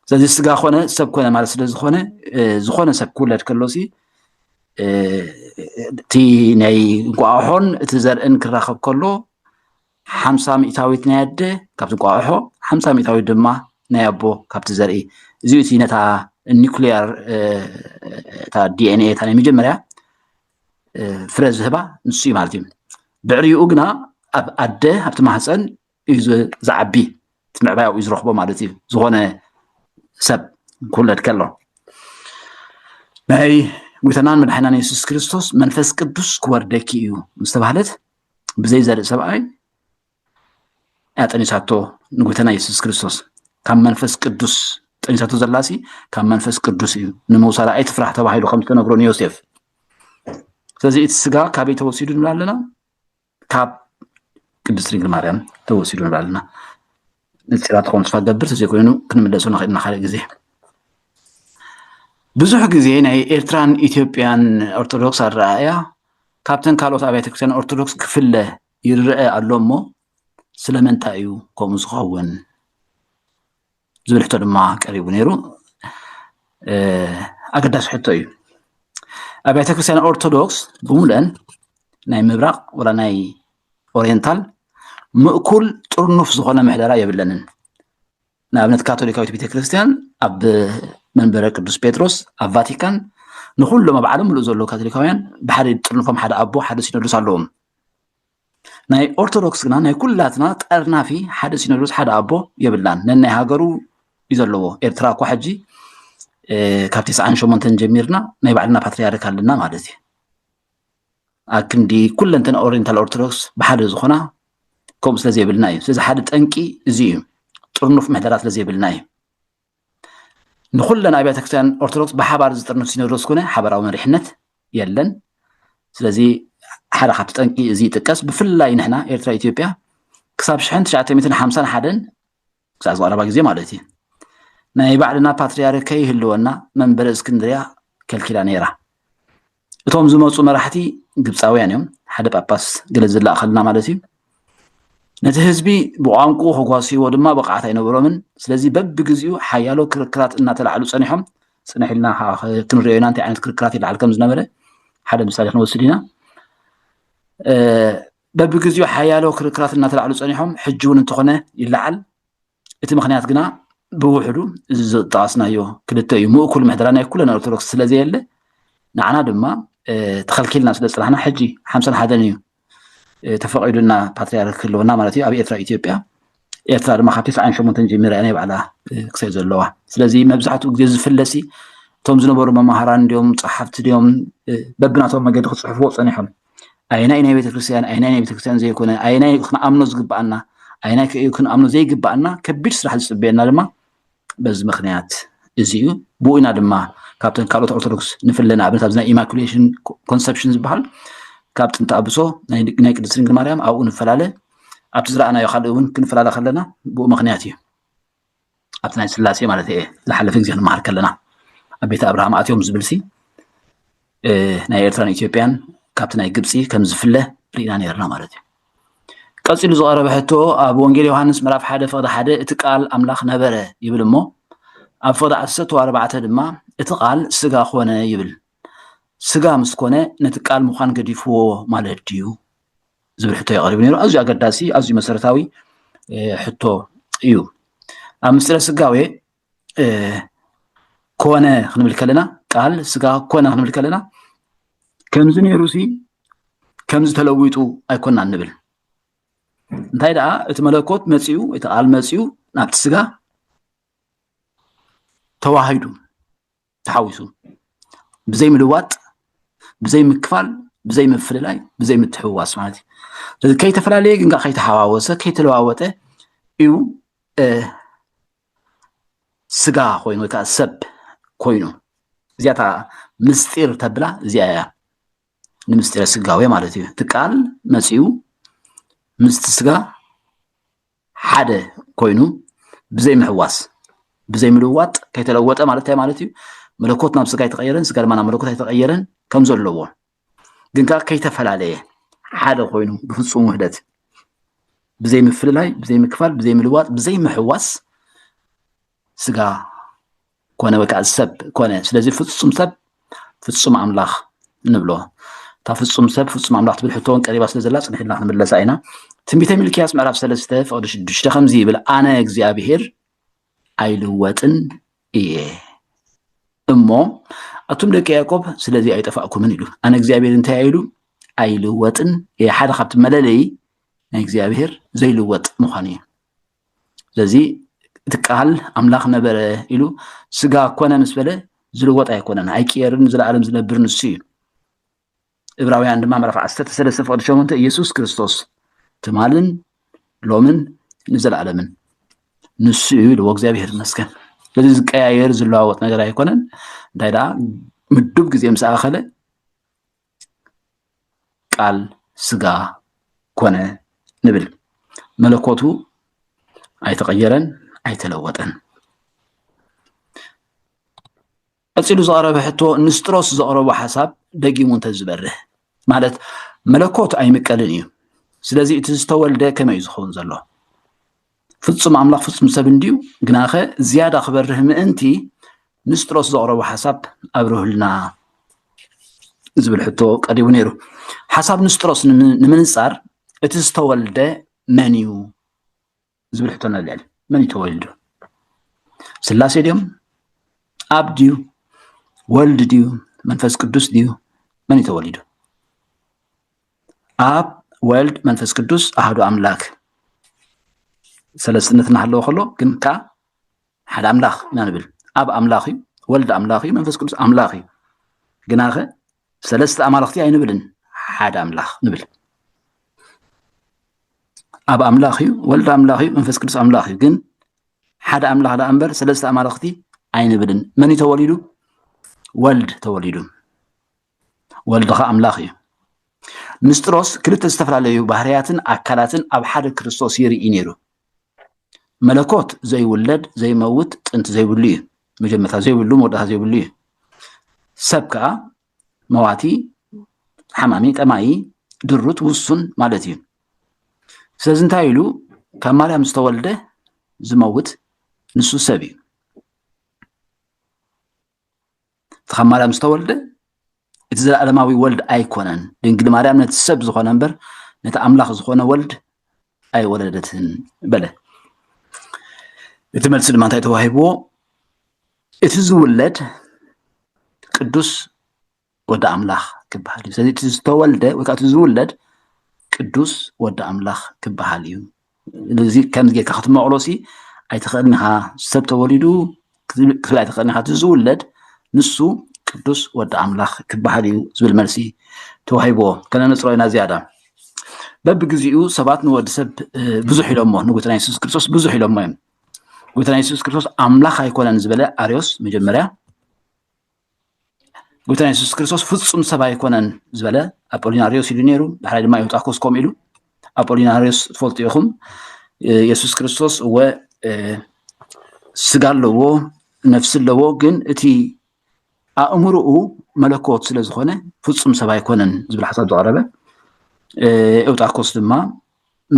ስለዚ ስጋ ኮነ ሰብ ኮነ ማለት ስለ ዝኾነ ዝኾነ ሰብ ክውለድ ከሎ ሲ እቲ ናይ እንቋሖን እቲ ዘርእን ክራኸብ ከሎ ሓምሳ ሚእታዊት ናይ ኣደ ካብቲ እንቋቑሖ ሓምሳ ሚእታዊት ድማ ናይ ኣቦ ካብቲ ዘርኢ እዚኡ እቲ ነታ ኒኩሊያር እታ ዲኤንኤ እታ ናይ መጀመርያ ፍረ ዝህባ ንሱ እዩ ማለት እዩ ብዕሪኡ ግና ኣብ ኣደ ኣብቲ ማህፀን እዩ ዝዓቢ እቲ ምዕባያኡ እዩ ዝረኽቦ ማለት እዩ ዝኾነ ሰብ ክውለድ ከሎ ናይ ጎይታናን መድሓናን የሱስ ክርስቶስ መንፈስ ቅዱስ ክወርደኪ እዩ ምስ ተባህለት ብዘይ ዘርኢ ሰብኣይ እያ ጠኒሳቶ ንጎይታና የሱስ ክርስቶስ ካብ መንፈስ ቅዱስ ጠኒሳቶ ዘላሲ ካብ መንፈስ ቅዱስ እዩ ንምውሳዳ ኣይትፍራሕ ተባሂሉ ከም ዝተነግሮ ንዮሴፍ ስለዚ እቲ ስጋ ካበይ ተወሲዱ ንብላ ኣለና ካብ ቅድስት ድንግል ማርያም ተወሲዱ ንብላ ኣለና ንጽራት ክኾኑ ተስፋ ገብር ተዘይኮይኑ ክንምለሱ ንኽእል ኢና ካልእ ግዜ ብዙሕ ግዜ ናይ ኤርትራን ኢትዮጵያን ኦርቶዶክስ ኣረኣእያ ካብተን ካልኦት ኣብያተ ክርስትያን ኦርቶዶክስ ክፍለ ይረአ ኣሎ እሞ ስለምንታይ እዩ ከምኡ ዝኸውን ዝብል ሕቶ ድማ ቀሪቡ ነይሩ ኣገዳሲ ሕቶ እዩ ኣብያተ ክርስትያን ኦርቶዶክስ ብምሉአን ናይ ምብራቕ ወላ ናይ ኦሪየንታል ምእኩል ጥርኑፍ ዝኾነ ምሕደራ የብለንን። ንኣብነት ካቶሊካዊት ቤተ ክርስቲያን ኣብ መንበረ ቅዱስ ጴጥሮስ ኣብ ቫቲካን ንኩሎም ኣብ ዓለም ምሉእ ዘለዉ ካቶሊካውያን ብሓደ ጥርንፎም ሓደ ኣቦ ሓደ ሲኖዶስ ኣለዎም ናይ ኦርቶዶክስ ግና ናይ ኩላትና ጠርናፊ ሓደ ሲኖዶስ ሓደ ኣቦ የብላን ነናይ ሃገሩ እዩ ዘለዎ ኤርትራ እኳ ሕጂ ካብ ትስዓን ሸሞንተን ጀሚርና ናይ ባዕልና ፓትሪያርክ ኣለና ማለት እዩ ኣክንዲ ኩለንተና ኦሪንታል ኦርቶዶክስ ብሓደ ዝኾና ከምኡ ስለ ዘይብልና እዩ ስለዚ ሓደ ጠንቂ እዚ እዩ ጥርኑፍ ምሕደራ ስለ ዘይብልና እዩ ንኩለን ኣብያተ ክርስትያን ኦርቶዶክስ ብሓባር ዝጥርንፍ ሲኖዶስ ኮነ ሓበራዊ መሪሕነት የለን ስለዚ ሓደ ካብቲ ጠንቂ እዚ ይጥቀስ ብፍላይ ንሕና ኤርትራ ኢትዮጵያ ክሳብ ሽሕን ትሽዓተ ሚትን ሓምሳን ሓደን ክሳብ ዝቐረባ ግዜ ማለት እዩ ናይ ባዕልና ፓትርያርክ ከይህልወና መንበረ እስክንድርያ ከልኪላ ነይራ እቶም ዝመፁ መራሕቲ ግብፃውያን እዮም ሓደ ጳጳስ ገለ ዝለኣኸልና ማለት እዩ ነቲ ህዝቢ ብቋንቁኡ ከጓስይዎ ድማ ብቕዓት ኣይነበሮምን ስለዚ በብግዜኡ ሓያሎ ክርክራት እናተላዕሉ ፀኒሖም ፅንሕ ኢልና ከዓ ክንሪኦ ኢና እንታይ ዓይነት ክርክራት ይለዓል ከም ዝነበረ ሓደ ምሳሌ ክንወስድ ኢና በብግዜኡ ሓያሎ ክርክራት እናተላዕሉ ጸኒሖም ሕጂ እውን እንተኾነ ይለዓል። እቲ ምክንያት ግና ብውሕዱ እዚ ዝጠቐስናዮ ክልተ እዩ። ምእኩል ምሕደራ ናይ ኩለን ኦርቶዶክስ ስለዘየለ ንዓና ድማ ተኸልኪልና ስለ ዝፅናሕና ሕጂ ሓምሳን ሓደን እዩ ተፈቂዱና ፓትሪያርክ ኣለውና ማለት እዩ ኣብ ኤርትራ ኢትዮጵያ ኤርትራ ድማ ካብ ትስዓን ሸሞንተን ጀሚራ ናይ ባዕላ ክሳይ ዘለዋ ስለዚ መብዛሕትኡ ግዜ ዝፍለሲ እቶም ዝነበሩ መማሃራን ድዮም ፀሓፍቲ ድዮም በብናቶም መገዲ ክፅሕፍዎ ፀኒሖም ኣየናይ ናይ ቤተክርስትያን ኣየናይ ናይ ቤተክርስትያን ዘይኮነ ኣየናይ ክንኣምኖ ዝግብኣና ኣየናይ ክንኣምኖ ዘይግብኣና ከቢድ ስራሕ ዝፅበየና ድማ በዚ ምክንያት እዚ እዩ ብኡ ኢና ድማ ካብተን ካልኦት ኦርቶዶክስ ንፍለ ንኣብነት ኣብዚ ናይ ኢማኩሌሽን ኮንሰፕሽን ዝበሃል ካብ ጥንቲ ኣብሶ ናይ ቅድስት ድንግል ማርያም ኣብኡ ንፈላለ ኣብቲ ዝረኣናዮ ካልእ እውን ክንፈላለ ከለና ብኡ ምክንያት እዩ ኣብቲ ናይ ስላሴ ማለት እየ ዝሓለፈ ግዜ ክንመሃር ከለና ኣብ ቤተ ኣብርሃም ኣትዮም ዝብልሲ ናይ ኤርትራን ኢትዮጵያን ካብቲ ናይ ግብፂ ከም ዝፍለ ርኢና ነርና ማለት እዩ ቀፂሉ ዝቐረበ ሕቶ ኣብ ወንጌል ዮሃንስ ምዕራፍ ሓደ ፍቕዲ ሓደ እቲ ቃል ኣምላኽ ነበረ ይብል እሞ ኣብ ፍቕዲ ዓሰርተ ኣርባዕተ ድማ እቲ ቃል ስጋ ኮነ ይብል ስጋ ምስ ኮነ ነቲ ቃል ምዃን ገዲፍዎ ማለት ድዩ ዝብል ሕቶ የቐሪቡ ነይሩ ኣዝዩ ኣገዳሲ ኣዝዩ መሰረታዊ ሕቶ እዩ ኣብ ምስጢረ ስጋዌ ኮነ ክንብል ከለና ቃል ስጋ ኮነ ክንብል ከለና ከምዚ ነይሩ ሲ ከምዚ ተለዊጡ ኣይኮና ንብል እንታይ ደኣ እቲ መለኮት መፅኡ እቲ ቃል መፅኡ ናብቲ ስጋ ተዋሂዱ ተሓዊሱ ብዘይ ምልዋጥ ብዘይ ምክፋል ብዘይ ምፍልላይ ብዘይ ምትሕውዋስ ማለት እዩ ከይተፈላለየ ግን ከይተሓዋወሰ ከይተለዋወጠ እዩ ስጋ ኮይኑ ወይ ከዓ ሰብ ኮይኑ እዚኣ እታ ምስጢር ተብላ እዚኣ እያ ንምስጢረ ስጋዌ ማለት እዩ እቲ ቃል መፂኡ ምስቲ ስጋ ሓደ ኮይኑ ብዘይምሕዋስ ብዘይምልዋጥ ከይተለወጠ ማለት እንታይ ማለት እዩ መለኮት ናብ ስጋ ኣይተቀየረን ስጋ ድማ ናብ መለኮት ኣይተቀየረን ከም ዘለዎ ግን ከዓ ከይተፈላለየ ሓደ ኮይኑ ብፍፁም ውህደት ብዘይምፍልላይ ብዘይምክፋል ብዘይምልዋጥ ብዘይምሕዋስ ስጋ ኮነ ወይ ከዓ ሰብ ኮነ ስለዚ ፍፁም ሰብ ፍፁም ኣምላኽ ንብሎ እታ ፍፁም ሰብ ፍፁም ኣምላኽ ትብል ሕቶ እውን ቀሪባ ስለ ዘላ ፅንሒልና ክንምለሳ ኢና ትንቢተ ሚልክያስ ምዕራፍ ሰለስተ ፍቅዲ ሽዱሽተ ከምዚ ይብል ኣነ እግዚኣብሄር ኣይልወጥን እየ እሞ ኣቱም ደቂ ያዕቆብ ስለዚ ኣይጠፋእኩምን ኢሉ ኣነ እግዚኣብሄር እንታይ ኢሉ ኣይልወጥን እየ ሓደ ካብቲ መለለይ ናይ እግዚኣብሄር ዘይልወጥ ምዃኑ እዩ ስለዚ እቲ ቃል ኣምላኽ ነበረ ኢሉ ስጋ ኮነ ምስ በለ ዝልወጥ ኣይኮነን ኣይቅየርን ንዘለኣለም ዝነብር ንሱ እዩ እብራውያን ድማ ምዕራፍ ዓሰርተ ሰለስተ ፍቕዲ ሸሞንተ ኢየሱስ ክርስቶስ ትማልን ሎምን ንዘለኣለምን ንሱ እዩ ኢልዎ እግዚኣብሄር ይመስገን ስለዚ ዝቀያየር ዝለዋወጥ ነገር ኣይኮነን እንታይ ደኣ ምዱብ ግዜ ምስ ኣኸለ ቃል ስጋ ኮነ ንብል። መለኮቱ ኣይተቐየረን ኣይተለወጠን። ቀፂሉ ዝቐረበ ሕቶ ንስጥሮስ ዘቕረቦ ሓሳብ ደጊሙ እንተዝበርህ ማለት መለኮት ኣይምቀልን እዩ። ስለዚ እቲ ዝተወልደ ከመይ እዩ ዝኸውን ዘሎ? ፍጹም ኣምላኽ ፍጹም ሰብ እንድዩ፣ ግናኸ ዝያዳ ክበርህ ምእንቲ ንስጥሮስ ዘቕረቦ ሓሳብ ኣብርህልና ዝብል ሕቶ ቀሪቡ ነይሩ። ሓሳብ ንስጥሮስ ንምንጻር እቲ ዝተወልደ መን እዩ ዝብል ሕቶ ነልዕል። መን እዩ ተወልዱ? ስላሴ ድዮም? ኣብ ድዩ? ወልድ ድዩ? መንፈስ ቅዱስ ድዩ? መን እዩ ተወሊዱ? ኣብ ወልድ መንፈስ ቅዱስ ኣሐዱ ኣምላክ ሰለስትነት እናሃለወ ከሎ ግን ከዓ ሓደ ኣምላኽ ኢና ንብል ኣብ ኣምላኽ እዩ ወልድ ኣምላኽ እዩ መንፈስ ቅዱስ ኣምላኽ እዩ ግናኸ ሰለስተ ኣማልኽቲ ኣይንብልን ሓደ ኣምላኽ ንብል ኣብ ኣምላኽ እዩ ወልድ ኣምላኽ እዩ መንፈስ ቅዱስ ኣምላኽ እዩ ግን ሓደ ኣምላኽ ደኣ እምበር ሰለስተ ኣማልኽቲ ኣይንብልን መን እዩ ተወሊዱ ወልድ ተወሊዱ ወልድኻ ኣምላኽ እዩ። ንስጥሮስ ክልተ ዝተፈላለዩ ባህርያትን ኣካላትን ኣብ ሓደ ክርስቶስ ይርኢ ነይሩ። መለኮት ዘይውለድ ዘይመውት ጥንቲ ዘይብሉ እዩ። መጀመርታ ዘይብሉ መወዳእታ ዘይብሉ እዩ። ሰብ ከዓ መዋቲ፣ ሓማሚ፣ ጠማይ፣ ድሩት፣ ውሱን ማለት እዩ። ስለዚ እንታይ ኢሉ ካብ ማርያም ዝተወልደ ዝመውት ንሱ ሰብ እዩ። እቲ ካብ ማርያም ዝተወልደ እቲ ዘለኣለማዊ ወልድ ኣይኮነን። ድንግል ማርያም ነቲ ሰብ ዝኾነ እምበር ነቲ ኣምላኽ ዝኾነ ወልድ ኣይወለደትን በለ። እቲ መልሲ ድማ እንታይ ተዋሂብዎ? እቲ ዝውለድ ቅዱስ ወዲ ኣምላኽ ክበሃል እዩ። ስለዚ እቲ ዝተወልደ ወይ ከዓ እቲ ዝውለድ ቅዱስ ወዲ ኣምላኽ ክበሃል እዩ። እዚ ከምዚ ጌርካ ክትመቕሎ ሲ ኣይትኽእልን ኢኻ። ሰብ ተወሊዱ ክትብል ኣይትኽእልን ኢኻ። እቲ ዝውለድ ንሱ ቅዱስ ወዲ ኣምላኽ ክበሃል እዩ ዝብል መልሲ ተዋሂብዎ። ከነነፅሮ ኢና ዝያዳ በብግዚኡ ሰባት ንወዲ ሰብ ብዙሕ ኢሎሞ ንጎይታና የሱስ ክርስቶስ ብዙሕ ኢሎሞ እዮም። ጎይታና የሱስ ክርስቶስ ኣምላኽ ኣይኮነን ዝበለ ኣርዮስ መጀመርያ ጎይታና የሱስ ክርስቶስ ፍጹም ሰብ ኣይኮነን ዝበለ ኣጶሊናርዮስ ኢሉ ነይሩ ዳሕራይ ድማ ዮጣኮስ ከምኡ ኢሉ ኣጶሊናርዮስ ትፈልጡ ኢኹም የሱስ ክርስቶስ እወ ስጋ ኣለዎ ነፍሲ ኣለዎ ግን እቲ ኣእምሮኡ መለኮት ስለ ዝኾነ ፍጹም ሰብ ኣይኮነን ዝብል ሓሳብ ዘቕረበ ኤውጣኮስ ድማ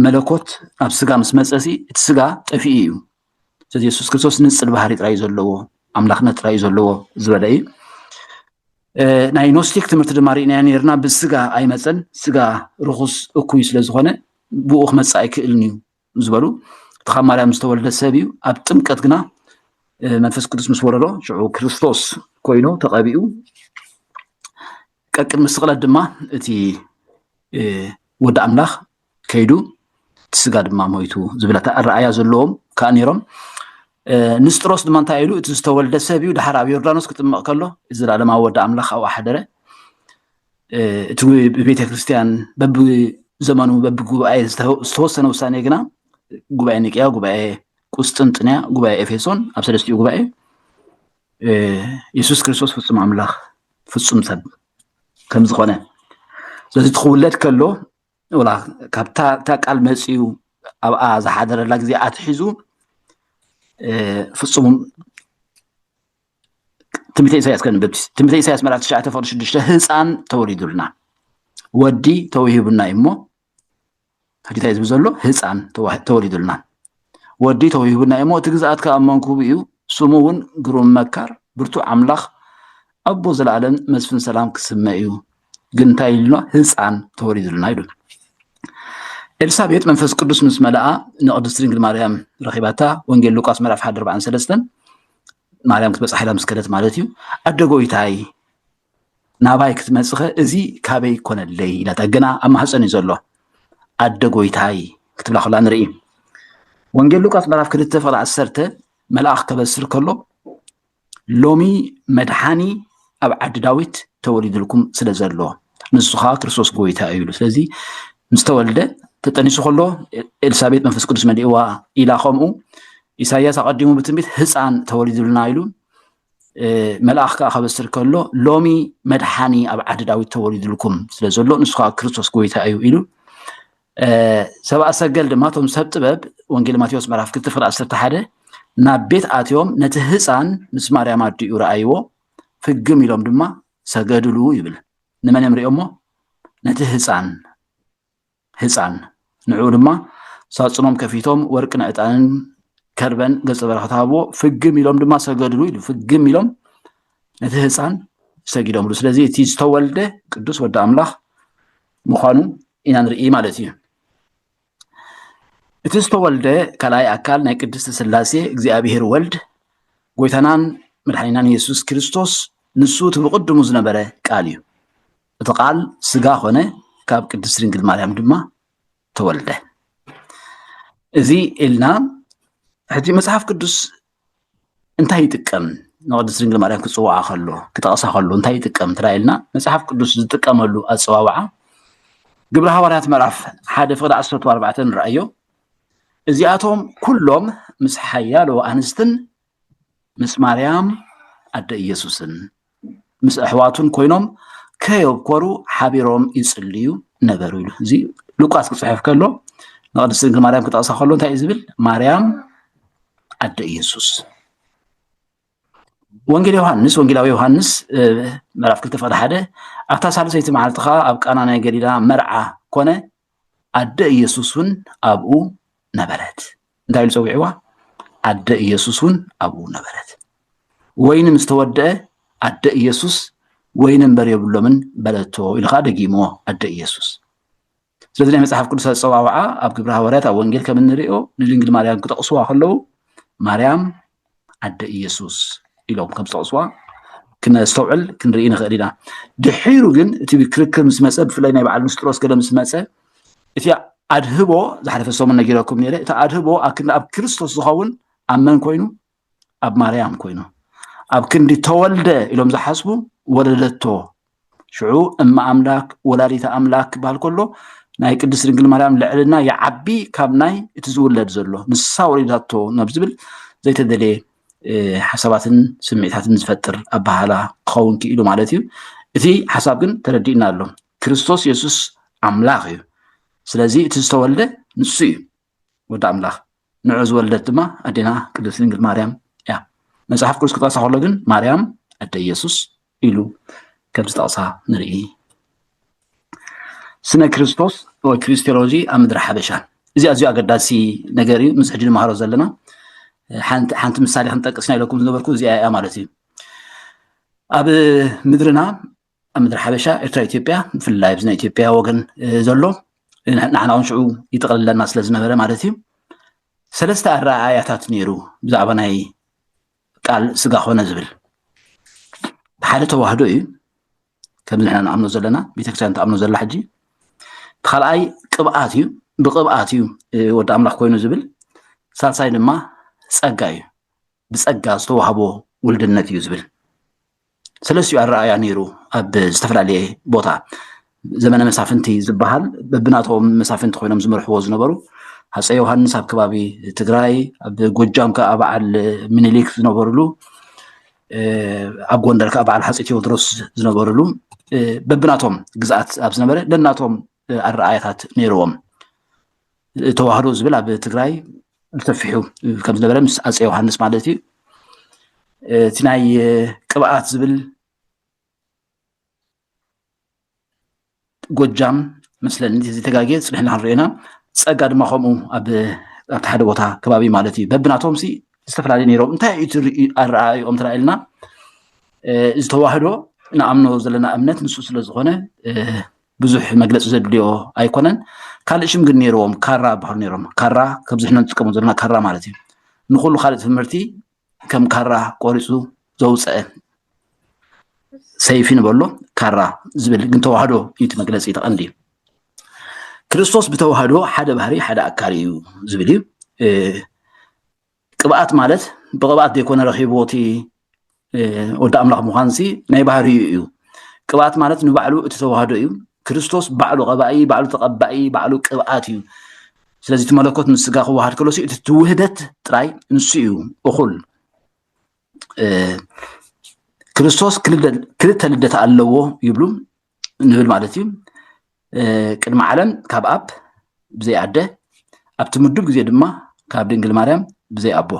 መለኮት ኣብ ስጋ ምስ መፀሲ እቲ ስጋ ጠፊኡ እዩ ስለዚ የሱስ ክርስቶስ ንጽል ባህሪ ጥራይ ዘለዎ ኣምላኽነት ጥራይ ዘለዎ ዝበለ እዩ ናይ ኖስቲክ ትምህርቲ ድማ ርኢናዮ ነርና ብስጋ ኣይመፀን ስጋ ርኹስ እኩይ ስለ ዝኾነ ብኡ ክመፅእ ኣይክእልን እዩ ዝበሉ እቲ ካብ ማርያም ዝተወልደ ሰብ እዩ ኣብ ጥምቀት ግና መንፈስ ቅዱስ ምስ ወረዶ ሽዑ ክርስቶስ ኮይኑ ተቐቢኡ ቀቅድሚ ስቕለት ድማ እቲ ወዲ ኣምላኽ ከይዱ እቲ ስጋ ድማ ሞይቱ ዝብል ኣረኣእያ ዘለዎም ከዓ ነይሮም ንስጥሮስ ድማ እንታይ ኢሉ እቲ ዝተወልደ ሰብ እዩ ድሓር ኣብ ዮርዳኖስ ክጥምቕ ከሎ ዘለኣለማዊ ወዲ ኣምላኽ ኣብኡ ሓደረ እቲ ብቤተ ክርስትያን በብዘመኑ በብጉባኤ ዝተወሰነ ውሳኔ ግና ጉባኤ ኒቅያ ጉባኤ ቁስጥንጥንያ ጉባኤ ኤፌሶን ኣብ ሰለስቲኡ ጉባኤ የሱስ ክርስቶስ ፍፁም ኣምላኽ ፍፁም ሰብ ከም ዝኾነ ስለዚ ትክውለድ ከሎ ወላ ካብታ እታ ቃል መፅኡ ኣብኣ ዝሓደረላ ግዜ ኣትሒዙ ፍፁም ትንቢተ ኢሳያስ ከንብብ ትንቢተ ኢሳያስ ምዕራፍ ትሽዓተ ፍቅዲ ሽዱሽተ ህፃን ተወሊዱልና ወዲ ተወሂቡና እዩ እሞ ሕጂታ ዝብ ዘሎ ህፃን ተወሊዱልና ወዲ ተውሂቡና እዩሞ እቲ ግዝኣት ከኣ ኣብ መንኩቡ እዩ ስሙ እውን ግሩም መካር ብርቱዕ ኣምላኽ ኣቦ ዘለኣለም መስፍን ሰላም ክስመ እዩ ግን እንታይ ኢሉና ህፃን ተወሊዱልና ኢሉ ኤልሳቤጥ መንፈስ ቅዱስ ምስ መለኣ ንቅድስቲ ድንግል ማርያም ረኺባታ ወንጌል ሉቃስ ምዕራፍ ሓደ ኣርባዕን ሰለስተን ማርያም ክትበፅሓ ኢላ ምስ ከደት ማለት እዩ ኣደ ጎይታይ ናባይ ክትመፅኸ እዚ ካበይ ኮነለይ ኢላታ ግና ኣብ ማህፀን እዩ ዘሎ ኣደ ጎይታይ ክትብላ ከላ ንርኢ ወንጌል ሉቃስ ምዕራፍ ክልተ ፍቕሪ ዓሰርተ መልኣኽ ከበስር ከሎ ሎሚ መድሓኒ ኣብ ዓዲ ዳዊት ተወሊድልኩም ስለ ዘሎ ንሱ ከዓ ክርስቶስ ጎይታ እዩ ኢሉ ስለዚ ምስ ተወልደ ተጠኒሱ ከሎ ኤልሳቤጥ መንፈስ ቅዱስ መሊእዋ ኢላ ከምኡ ኢሳያስ ኣቐዲሙ ብትንቢት ህፃን ተወሊዱልና ኢሉ መልኣኽ ከዓ ከበስር ከሎ ሎሚ መድሓኒ ኣብ ዓዲ ዳዊት ተወሊዱልኩም ስለ ዘሎ ንሱ ከዓ ክርስቶስ ጎይታ እዩ ኢሉ ሰብኣ ሰገል ድማ እቶም ሰብ ጥበብ ወንጌል ማቴዎስ ምዕራፍ ክልተ ፍቅሪ ዓሰርተ ሓደ ናብ ቤት ኣትዮም ነቲ ህፃን ምስ ማርያም ኣዲኡ ረኣይዎ ፍግም ኢሎም ድማ ሰገድሉ ይብል ንመን እዮም ሪኦሞ ነቲ ህፃን ህጻን። ንዕኡ ድማ ሳጹኖም ከፊቶም ወርቅን ዕጣንን ከርበን ገጸ በረከት ሃብዎ። ፍግም ኢሎም ድማ ሰገድሉ ኢሉ ፍግም ኢሎም ነቲ ህፃን ሰጊዶምሉ ስለዚ እቲ ዝተወልደ ቅዱስ ወዲ ኣምላኽ ምዃኑ ኢና ንርኢ ማለት እዩ እቲ ዝተወልደ ካልኣይ ኣካል ናይ ቅድስቲ ስላሴ እግዚኣብሄር ወልድ ጎይታናን መድሓኒናን የሱስ ክርስቶስ ንሱ እቲ ብቕድሙ ዝነበረ ቃል እዩ እቲ ቃል ስጋ ኮነ ካብ ቅድስት ድንግል ማርያም ድማ ተወልደ እዚ ኢልና ሕጂ መጽሓፍ ቅዱስ እንታይ ይጥቀም ንቅድስት ድንግል ማርያም ክጽውዓ ከሎ ክጠቕሳ ከሎ እንታይ ይጥቀም እንተ ኢልና መጽሓፍ ቅዱስ ዝጥቀመሉ ኣጸዋውዓ ግብረ ሃዋርያት ምዕራፍ ሓደ ፍቅዲ ዓሰርተ ኣርባዕተ ንረኣዮ እዚኣቶም ኩሎም ምስ ሓያሎ ኣንስትን ምስ ማርያም ኣደ ኢየሱስን ምስ ኣሕዋቱን ኮይኖም ከየብኮሩ ሓቢሮም ይጽልዩ ነበሩ ኢሉ እዚ ሉቃስ ክጽሕፍ ከሎ ንቅድስቲ ድንግል ማርያም ክጠቕሳ ከሎ እንታይ እዩ ዝብል ማርያም ኣደ ኢየሱስ ወንጌል ዮሃንስ ወንጌላዊ ዮሃንስ ምዕራፍ ክልተ ፍቅዲ ሓደ ኣብታ ሳልሰይቲ መዓልቲ ከዓ ኣብ ቃና ናይ ገሊላ መርዓ ኮነ ኣደ ኢየሱስ እውን ኣብኡ ነበረት። እንታይ ኢሉ ጸዊዕዋ? ኣደ ኢየሱስ እውን ኣብኡ ነበረት። ወይኒ ምስ ተወድአ ኣደ ኢየሱስ ወይኒ እምበር የብሎምን በለቶ ኢሉ ከዓ ደጊሞ ኣደ ኢየሱስ ስለዚ ናይ መጽሓፍ ቅዱስ ኣጸዋውዓ ኣብ ግብረ ሃዋርያት ኣብ ወንጌል ከም እንሪኦ ንድንግል ማርያም ክጠቕስዋ ከለዉ ማርያም ኣደ ኢየሱስ ኢሎም ከም ዝጠቕስዋ ክነስተውዕል ክንርኢ ንኽእል ኢና ድሒሩ ግን እቲ ክርክር ምስ መፀ ብፍላይ ናይ በዓል ንስጥሮስ ገለ ምስ መፀ እቲ ኣድህቦ ዝሓለፈ ሰሙን ነጊረኩም ነይረ እቲ ኣድህቦ ኣብ ክንዲ ኣብ ክርስቶስ ዝኸውን ኣብ መን ኮይኑ ኣብ ማርያም ኮይኑ ኣብ ክንዲ ተወልደ ኢሎም ዝሓስቡ ወለደቶ ሽዑ እመ ኣምላክ ወላዲተ ኣምላክ ክበሃል ከሎ ናይ ቅድስት ድንግል ማርያም ልዕልና ይዓቢ ካብ ናይ እቲ ዝውለድ ዘሎ ንሳ ወሊዳቶ ናብ ዝብል ዘይተደለየ ሓሳባትን ስምዒታትን ዝፈጥር ኣበሃላ ክኸውን ክኢሉ ማለት እዩ እቲ ሓሳብ ግን ተረዲእና ኣሎ ክርስቶስ የሱስ ኣምላኽ እዩ ስለዚ እቲ ዝተወልደ ንሱ እዩ ወዲ ኣምላኽ ንዑ ዝወለደት ድማ ኣዴና ቅድስት ድንግል ማርያም እያ። መጽሓፍ ቅዱስ ክጠቕሳ ከሎ ግን ማርያም ኣደ ኢየሱስ ኢሉ ከም ዝጠቕሳ ንርኢ። ስነ ክርስቶስ ወይ ክሪስቴሎጂ ኣብ ምድሪ ሓበሻ እዚ ኣዝዩ ኣገዳሲ ነገር እዩ። ምስ ሕጂ ንመሃሮ ዘለና ሓንቲ ምሳሌ ክንጠቅስ ናይ ኢለኩም ዝነበርኩ እዚኣ እያ ማለት እዩ። ኣብ ምድርና ኣብ ምድሪ ሓበሻ ኤርትራ ኢትዮጵያ ብፍላይ ኣብዚ ናይ ኢትዮጵያ ወገን ዘሎ ንሕና እውን ሽዑ ይጥቕልለና ስለ ዝነበረ ማለት እዩ ሰለስተ ኣረኣእያታት ነይሩ ብዛዕባ ናይ ቃል ስጋ ኮነ ዝብል ሓደ ተዋህዶ እዩ ከም ንሕና ንኣምኖ ዘለና ቤተክርስትያን ትኣምኖ ዘላ ሕጂ ካልኣይ ቅብኣት እዩ ብቅብኣት እዩ ወዲ ኣምላኽ ኮይኑ ዝብል ሳልሳይ ድማ ፀጋ እዩ ብፀጋ ዝተዋህቦ ውልድነት እዩ ዝብል ሰለስትኡ ኣረኣእያ ነይሩ ኣብ ዝተፈላለየ ቦታ ዘመነ መሳፍንቲ ዝበሃል በብናቶም መሳፍንቲ ኮይኖም ዝመርሕዎ ዝነበሩ ሃፀ ዮሃንስ ኣብ ከባቢ ትግራይ ኣብ ጎጃም ከዓ በዓል ምኒልክ ዝነበርሉ ኣብ ጎንደር ከዓ በዓል ሃፀ ቴዎድሮስ ዝነበርሉ በብናቶም ግዝኣት ኣብ ዝነበረ ደናቶም ኣረኣእያታት ነይርዎም። ተዋህዶ ዝብል ኣብ ትግራይ ብሰፊሑ ከም ዝነበረ ምስ ኣፀ ዮሃንስ ማለት እዩ እቲ ናይ ቅብኣት ዝብል ጎጃም መስለኒ ተጋጌ ፅንሕና ክንሪኦ ኢና ፀጋ ድማ ከምኡ ኣብቲ ሓደ ቦታ ከባቢ ማለት እዩ በብናቶም ሲ ዝተፈላለዩ ነይሮም እንታይ እዩ ኣረኣእኦም ተራእልና ዝተዋህዶ ንኣምኖ ዘለና እምነት ንሱ ስለ ዝኾነ ብዙሕ መግለፂ ዘድልዮ ኣይኮነን ካልእ ሽም ግን ነይርዎም ካራ ይበሃሉ ነይሮም ካራ ከምዚ ሕነ ንጥቀሙ ዘለና ካራ ማለት እዩ ንኩሉ ካልእ ትምህርቲ ከም ካራ ቆሪፁ ዘውፀአ ሰይፊ ንበሎ ካራ ዝብል ግን ተዋህዶ እዩ እቲ መግለፂ ተቐንዲ እዩ ክርስቶስ ብተዋህዶ ሓደ ባህሪ ሓደ ኣካል እዩ ዝብል እዩ ቅብኣት ማለት ብቕብኣት ዘይኮነ ረኺብዎ እቲ ወዲ ኣምላኽ ምዃን ሲ ናይ ባህርዩ እዩ ቅብኣት ማለት ንባዕሉ እቲ ተዋህዶ እዩ ክርስቶስ ባዕሉ ቀባኢ ባዕሉ ተቐባኢ ባዕሉ ቅብኣት እዩ ስለዚ እቲ መለኮት ምስ ስጋ ክወሃድ ከሎ እቲ ትውህደት ጥራይ ንሱ እዩ እኹል ክርስቶስ ክልተ ልደት ኣለዎ ይብሉ ንብል ማለት እዩ ቅድሚ ዓለም ካብ ኣብ ብዘይ ኣደ ኣብቲ ምዱብ ግዜ ድማ ካብ ድንግል ማርያም ብዘይ ኣቦ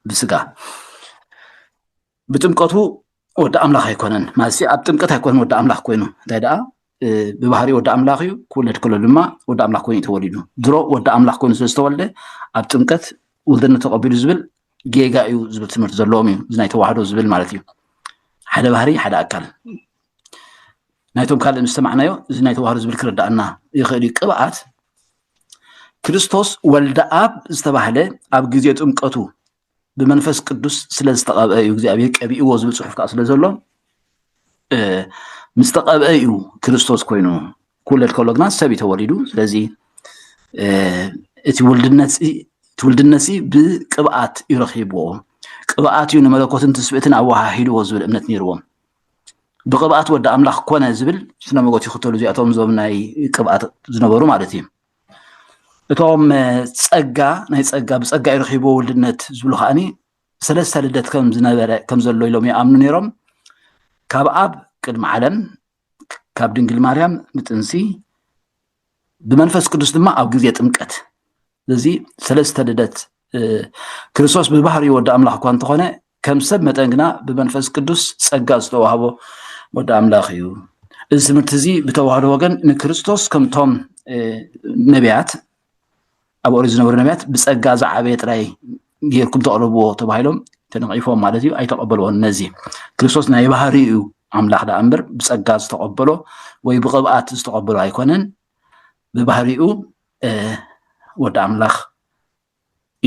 ብስጋ ብጥምቀቱ ወዲ ኣምላኽ ኣይኮነን ማለት ኣብ ጥምቀት ኣይኮነን ወዲ ኣምላኽ ኮይኑ እንታይ ደኣ ብባህሪ ወዲ ኣምላኽ እዩ ክውለድ ከሎ ድማ ወዲ ኣምላኽ ኮይኑ ተወሊዱ ድሮ ወዲ ኣምላኽ ኮይኑ ስለ ዝተወልደ ኣብ ጥምቀት ውልድነት ተቐቢሉ ዝብል ጌጋ እዩ ዝብል ትምህርቲ ዘለዎም እዩ እዚ ናይ ተዋህዶ ዝብል ማለት እዩ ሓደ ባህሪ ሓደ ኣካል ናይቶም ካልእ ምስ ሰማዕናዮ እዚ ናይ ተዋህዶ ዝብል ክርዳእና ይኽእል እዩ ቅብኣት ክርስቶስ ወልደ ኣብ ዝተባህለ ኣብ ግዜ ጥምቀቱ ብመንፈስ ቅዱስ ስለ ዝተቐብአ እዩ እግዚኣብሔር ቀቢእዎ ዝብል ፅሑፍ ከዓ ስለ ዘሎ ምስ ተቐብአ እዩ ክርስቶስ ኮይኑ ክውለድ ከሎ ግና ሰብ እዩ ተወሊዱ ስለዚ እቲ ውልድነት እቲ ውልድነት ብቅብኣት እዩ ረኪብዎ ቅብኣት እዩ ንመለኮትን ትስብእትን ኣወሃሂድዎ ዝብል እምነት ነይርዎም ብቅብኣት ወዲ ኣምላኽ ኮነ ዝብል ስነ መጎት ይኽተሉ እዚኣቶም እዞም ናይ ቅብኣት ዝነበሩ ማለት እዩ እቶም ጸጋ ናይ ጸጋ ብጸጋ እዩ ረኪብዎ ውልድነት ዝብሉ ከዓኒ ሰለስተ ልደት ከም ዝነበረ ከም ዘሎ ኢሎም ይኣምኑ ነይሮም ካብ ኣብ ቅድሚ ዓለም ካብ ድንግል ማርያም ንጥንሲ ብመንፈስ ቅዱስ ድማ ኣብ ግዜ ጥምቀት እዚ ሰለስተ ልደት ክርስቶስ ብባህሪ ወዲ ኣምላኽ እኳ እንተኾነ ከም ሰብ መጠን ግና ብመንፈስ ቅዱስ ጸጋ ዝተዋህቦ ወዲ ኣምላኽ እዩ እዚ ትምህርቲ እዚ ብተዋህዶ ወገን ንክርስቶስ ከምቶም ነቢያት ኣብ ኦሪት ዝነበሩ ነቢያት ብፀጋ ዝዓበየ ጥራይ ጌርኩም ተቕርብዎ ተባሂሎም ተነቒፎም ማለት እዩ ኣይተቐበልዎን ነዚ ክርስቶስ ናይ ባህሪ እዩ ኣምላኽ ደኣ እምበር ብፀጋ ዝተቐበሎ ወይ ብቕብኣት ዝተቐበሎ ኣይኮነን ብባህሪኡ ወዲ ኣምላኽ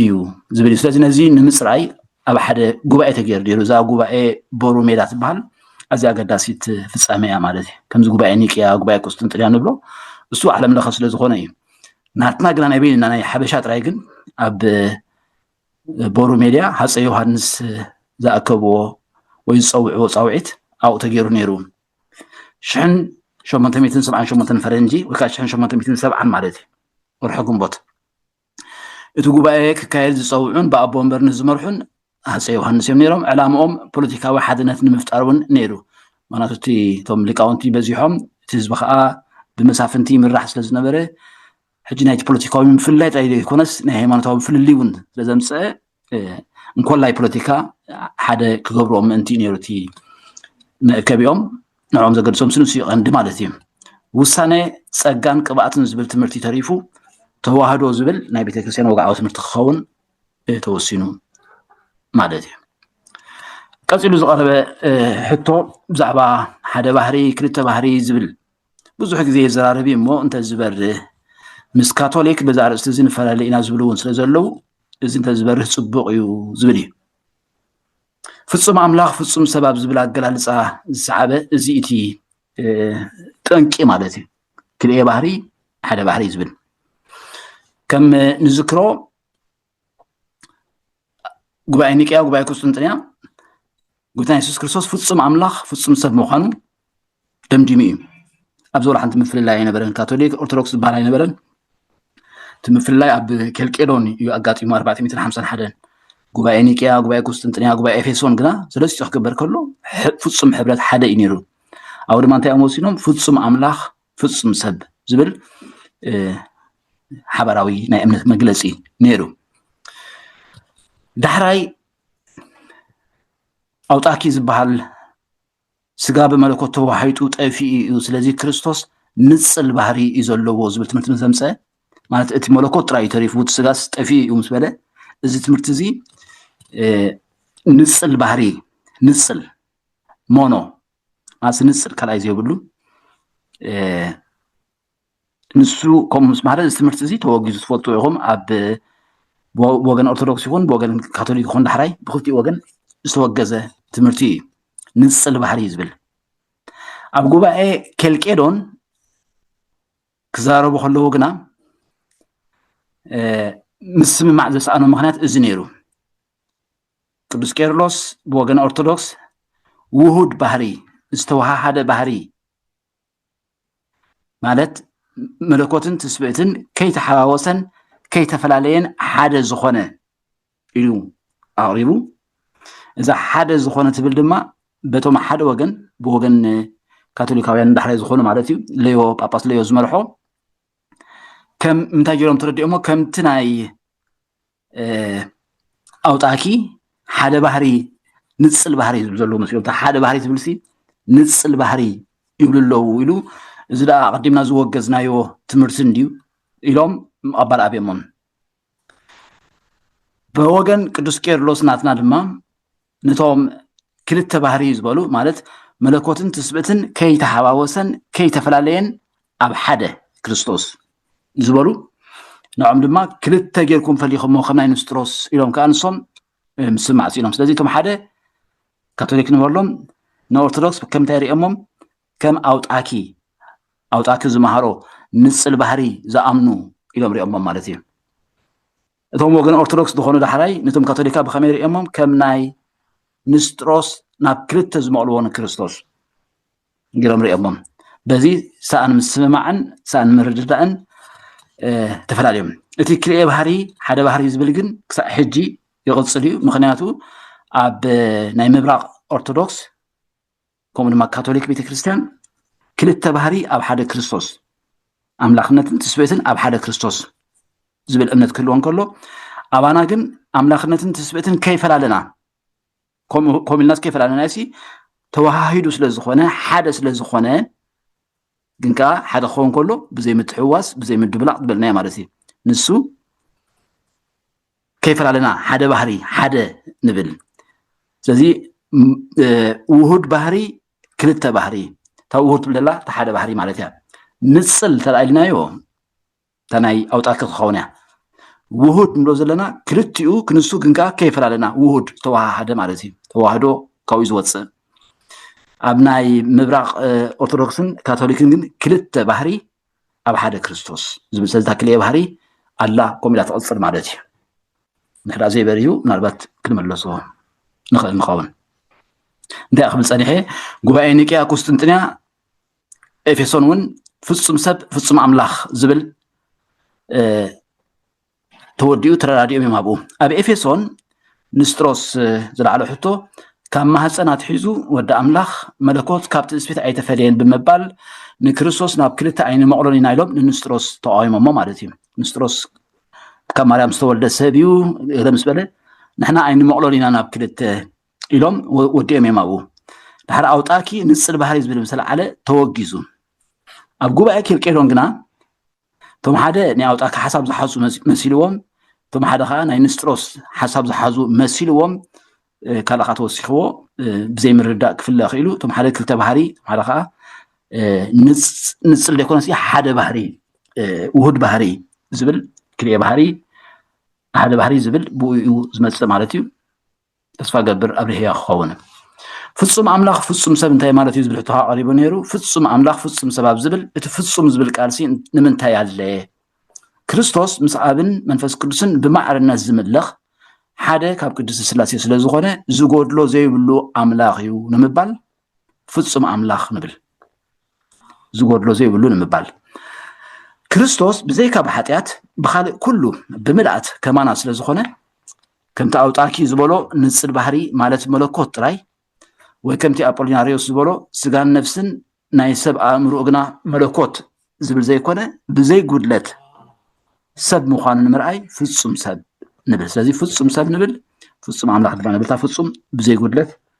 እዩ ዝብል እዩ ስለዚ ነዚ ንምፅራይ ኣብ ሓደ ጉባኤ ተገይሩ ነይሩ እዛ ጉባኤ ቦሩ ሜዳ ትበሃል ኣዝያ ኣገዳሲት ፍፃመ እያ ማለት እዩ ከምዚ ጉባኤ ኒቅያ ጉባኤ ቁስጥንጥንያ ንብሎ እሱ ዓለም ለኸ ስለ ዝኾነ እዩ ናትና ግና ናይ በይንና ናይ ሓበሻ ጥራይ ግን ኣብ ቦሩ ሜድያ ሃፀ ዮሃንስ ዝኣከብዎ ወይ ዝፀውዕዎ ፃውዒት ኣብኡ ተገይሩ ነይሩ ሽሕን ሸሞንተ ሚትን ሰብዓን ሸሞንተን ፈረንጂ ወይ ከዓ ሽሕን ሸሞንተ ሚትን ሰብዓን ማለት እዩ ወርሒ ግንቦት እቲ ጉባኤ ክካየድ ዝፀውዑን ብኣቦ ወንበር ንዝመርሑን ሃፀይ ዮሃንስ እዮም ነይሮም ዕላምኦም ፖለቲካዊ ሓድነት ንምፍጣር እውን ነይሩ ምክንያቱ እቲ እቶም ሊቃውንቲ በዚሖም እቲ ህዝቢ ከዓ ብመሳፍንቲ ይምራሕ ስለ ዝነበረ ሕጂ ናይቲ ፖለቲካዊ ምፍልላይ ጥራይ ዘይኮነስ ናይ ሃይማኖታዊ ፍልልይ እውን ስለ ዘምፀአ እንኮላይ ፖለቲካ ሓደ ክገብርኦ ምእንቲ እዩ ነይሩ እቲ መእከቢኦም ንዕኦም ዘገድሶም ስንሱ ይቐንዲ ማለት እዩ ውሳነ ፀጋን ቅብኣትን ዝብል ትምህርቲ ተሪፉ ተዋህዶ ዝብል ናይ ቤተክርስትያን ወግዓዊ ትምህርቲ ክኸውን ተወሲኑ ማለት እዩ ቀፂሉ ዝቐረበ ሕቶ ብዛዕባ ሓደ ባህሪ ክልተ ባህሪ ዝብል ብዙሕ ግዜ የዘራርብ እሞ እንተዝበርህ ምስ ካቶሊክ በዛ ኣርእስቲ እዚ ንፈላለ ኢና ዝብሉ እውን ስለ ዘለው እዚ እንተዝበርህ ፅቡቕ እዩ ዝብል እዩ ፍፁም ኣምላኽ ፍፁም ሰብ ኣብ ዝብል ኣገላልፃ ዝሰዓበ እዚ እቲ ጠንቂ ማለት እዩ ክልኤ ባህሪ ሓደ ባህሪ ዝብል ከም ንዝክሮ ጉባኤ ኒቅያ ጉባኤ ቁስጥንጥንያ ጉብታ የሱስ ክርስቶስ ፍፁም ኣምላኽ ፍፁም ሰብ ምዃኑ ደምዲሙ እዩ ኣብዚ ወላሓንቲ ምፍልላይ ኣይነበረን ካቶሊክ ኦርቶዶክስ ዝበሃል ኣይነበረን እቲ ምፍልላይ ኣብ ኬልቄዶን እዩ ኣጋጢሙ ኣርባዕተ ሚትን ሓምሳን ሓደን ጉባኤ ኒቅያ ጉባኤ ቁስጥንጥንያ ጉባኤ ኤፌሶን ግና ሰለስቲኡ ክግበር ከሎ ፍፁም ሕብረት ሓደ እዩ ነይሩ ኣብኡ ድማ እንታይ እዮም ወሲኖም ፍፁም ኣምላኽ ፍፁም ሰብ ዝብል ሓበራዊ ናይ እምነት መግለፂ ነይሩ ዳሕራይ ኣውጣኪ ዝበሃል ስጋ ብመለኮት ተዋሒጡ ጠፊኡ እዩ ስለዚ ክርስቶስ ንጽል ባህሪ እዩ ዘለዎ ዝብል ትምህርቲ ምስ ዘምፀ ማለት እቲ መለኮት ጥራይ እዩ ተሪፉ እቲ ስጋስ ጠፊኡ እዩ ምስ በለ እዚ ትምህርቲ እዚ ንጽል ባህሪ ንጽል ሞኖ ማለት ንጽል ካልኣይ ዘይብሉ ንሱ ከምኡ ምስ በሃለ እዚ ትምህርቲ እዚ ተወጊዙ ትፈልጡ ኢኹም ኣብ ብወገን ኦርቶዶክስ ይኹን ብወገን ካቶሊክ ይኹን ዳሕራይ ብክልቲኡ ወገን ዝተወገዘ ትምህርቲ እዩ ንፅል ባህሪ እዩ ዝብል ኣብ ጉባኤ ኬልቄዶን ክዛረቡ ከለዉ ግና ምስምማዕ ዘሰኣኑ ምክንያት እዚ ነይሩ ቅዱስ ቄርሎስ ብወገን ኦርቶዶክስ ውሁድ ባህሪ ዝተወሃሃደ ባህሪ ማለት መለኮትን ትስብእትን ከይተሓዋወሰን ከይተፈላለየን ሓደ ዝኾነ ኢሉ ኣቕሪቡ እዛ ሓደ ዝኾነ ትብል ድማ በቶም ሓደ ወገን ብወገን ካቶሊካውያን ዳሕራይ ዝኾኑ ማለት እዩ ለዮ ጳጳስ ለዮ ዝመርሖ ከም እንታይ ጀሮም ተረዲኦሞ ከምቲ ናይ ኣውጣኪ ሓደ ባህሪ ንፅል ባህሪ ዝብል ዘለዎ መስሎም ሓደ ባህሪ ዝብልሲ ንፅል ባህሪ ይብሉ ኣለዉ ኢሉ እዚ ደኣ ኣቐዲምና ዝወገዝናዮ ትምህርቲ እንድዩ ኢሎም ምቐባል ኣብዮሞም ብወገን ቅዱስ ቄርሎስ ናትና ድማ ነቶም ክልተ ባህርይ ዝበሉ ማለት መለኮትን ትስብእትን ከይተሓዋወሰን ከይተፈላለየን ኣብ ሓደ ክርስቶስ ዝበሉ ንዖም ድማ ክልተ ጌርኩም ፈሊኹሞ ከም ናይ ንስጥሮስ ኢሎም ከዓ ንሶም ምስ ማዕፂኖም ስለዚ እቶም ሓደ ካቶሊክ ንበሎም ንኦርቶዶክስ ከምታይ ሪኦሞም ከም ኣውጣኪ ኣውጣኪ ዝመሃሮ ንፅል ባህሪ ዝኣምኑ ኢሎም ሪኦሞም ማለት እዩ እቶም ወገን ኦርቶዶክስ ዝኾኑ ዳሕራይ ነቶም ካቶሊካ ብኸመይ ርእዮሞም ከም ናይ ንስጥሮስ ናብ ክልተ ዝመቕልዎ ንክርስቶስ ጌሮም ርእዮሞም በዚ ሰኣን ምስምማዕን ሰኣን ምርድዳእን ተፈላለዮም እቲ ክልኤ ባህሪ ሓደ ባህሪ ዝብል ግን ክሳዕ ሕጂ ይቕፅል እዩ ምክንያቱ ኣብ ናይ ምብራቕ ኦርቶዶክስ ከምኡ ድማ ካቶሊክ ቤተክርስትያን ክልተ ባህሪ ኣብ ሓደ ክርስቶስ ኣምላኽነትን ትስብእትን ኣብ ሓደ ክርስቶስ ዝብል እምነት ክህልዎ እንከሎ ኣባና ግን ኣምላኽነትን ትስብእትን ከይፈላለና ከምኡ ኢልናስ ከይፈላለና ሲ ተወሃሂዱ ስለ ዝኾነ ሓደ ስለ ዝኾነ ግን ከዓ ሓደ ክኸውን ከሎ ብዘይ ምትሕዋስ ብዘይ ምድብላቕ ዝበልናዮ ማለት እዩ ንሱ ከይፈላለና ሓደ ባህሪ ሓደ ንብል ስለዚ ውሁድ ባህሪ ክልተ ባህሪ እታ ውሁድ ትብል ዘላ እታ ሓደ ባህሪ ማለት እያ ንፅል እንተደኣ ኢልናዮ እታ ናይ ኣውጣት ክትኸውን እያ ውሁድ ንብሎ ዘለና ክልቲኡ ክንሱ ግን ከዓ ከይፈላለና ውሁድ ዝተዋሃሃደ ማለት እዩ ተዋህዶ ካብኡ ዝወፅእ ኣብ ናይ ምብራቅ ኦርቶዶክስን ካቶሊክን ግን ክልተ ባህሪ ኣብ ሓደ ክርስቶስ ዝብል ስለዚ እታ ክልኤ ባህሪ ኣላ ከምኡ ኢላ ትቕፅል ማለት እዩ እንድሕር ዘይበርዩ ምናልባት ክንመለሶ ንኽእል ንኸውን እንታይ ክብል ፀኒሐ ጉባኤ ኒቅያ ቁስጥንጥንያ ኤፌሶን እውን ፍፁም ሰብ ፍፁም ኣምላኽ ዝብል ተወዲኡ ተረዳዲኦም እዮም ኣብኡ ኣብ ኤፌሶን ንስጥሮስ ዝለዓሎ ሕቶ ካብ ማህፀን ኣትሒዙ ወዲ ኣምላኽ መለኮት ካብ ትስፊት ኣይተፈለየን ብምባል ንክርስቶስ ናብ ክልተ ኣይንመቕሎን ኢና ኢሎም ንንስጥሮስ ተቃዊሞሞ ማለት እዩ ንስጥሮስ ካብ ማርያም ዝተወልደ ሰብ እዩ እለ ምስ በለ ንሕና ኣይንመቕሎን ኢና ናብ ክልተ ኢሎም ወዲኦም እዮም ኣብኡ ድሓር ኣውጣኪ ንፅል ባህሪ ዝብል ምሰለዓለ ተወጊዙ ኣብ ጉባኤ ኬልቄዶን ግና እቶም ሓደ ናይ ኣውጣኪ ሓሳብ ዝሓዙ መሲልዎም እቶም ሓደ ከዓ ናይ ንስጥሮስ ሓሳብ ዝሓዙ መሲልዎም ካልእ ከዓ ተወሲኽዎ ብዘይምርዳእ ክፍለ ክኢሉ እቶም ሓደ ክልተ ባህሪ እቶም ሓደ ከዓ ንፅል ዘይኮነስ ሓደ ባህሪ ውሁድ ባህሪ ዝብል ክልኤ ባህሪ ሓደ ባህሪ ዝብል ብኡ እዩ ዝመፅእ ማለት እዩ ተስፋ ገብር ኣብ ልህያ ክኸውን ፍጹም ኣምላኽ ፍጹም ሰብ እንታይ ማለት እዩ ዝብል ሕቶ ኣቐሪቡ ነይሩ ፍጹም ኣምላኽ ፍጹም ሰብ ኣብ ዝብል እቲ ፍጹም ዝብል ቃልሲ ንምንታይ ኣለየ ክርስቶስ ምስ ኣብን መንፈስ ቅዱስን ብማዕርነት ዝምለኽ ሓደ ካብ ቅዱስ ስላሴ ስለ ዝኾነ ዝጎድሎ ዘይብሉ ኣምላኽ እዩ ንምባል ፍጹም ኣምላኽ ንብል ዝጎድሎ ዘይብሉ ንምባል ክርስቶስ ብዘይካ ብሓጢኣት ብካልእ ኩሉ ብምልኣት ከማና ስለ ዝኾነ ከምቲ ኣውጣኪ ዝበሎ ንጽል ባህሪ ማለት መለኮት ጥራይ ወይ ከምቲ ኣጶሊናርዮስ ዝበሎ ስጋን ነፍስን ናይ ሰብ ኣእምሮ ግና መለኮት ዝብል ዘይኮነ ብዘይ ጉድለት ሰብ ምዃኑ ንምርኣይ ፍጹም ሰብ ንብል ስለዚ ፍጹም ሰብ ንብል ፍጹም ኣምላኽ ድማ ንብልታ ፍጹም ብዘይ ጉድለት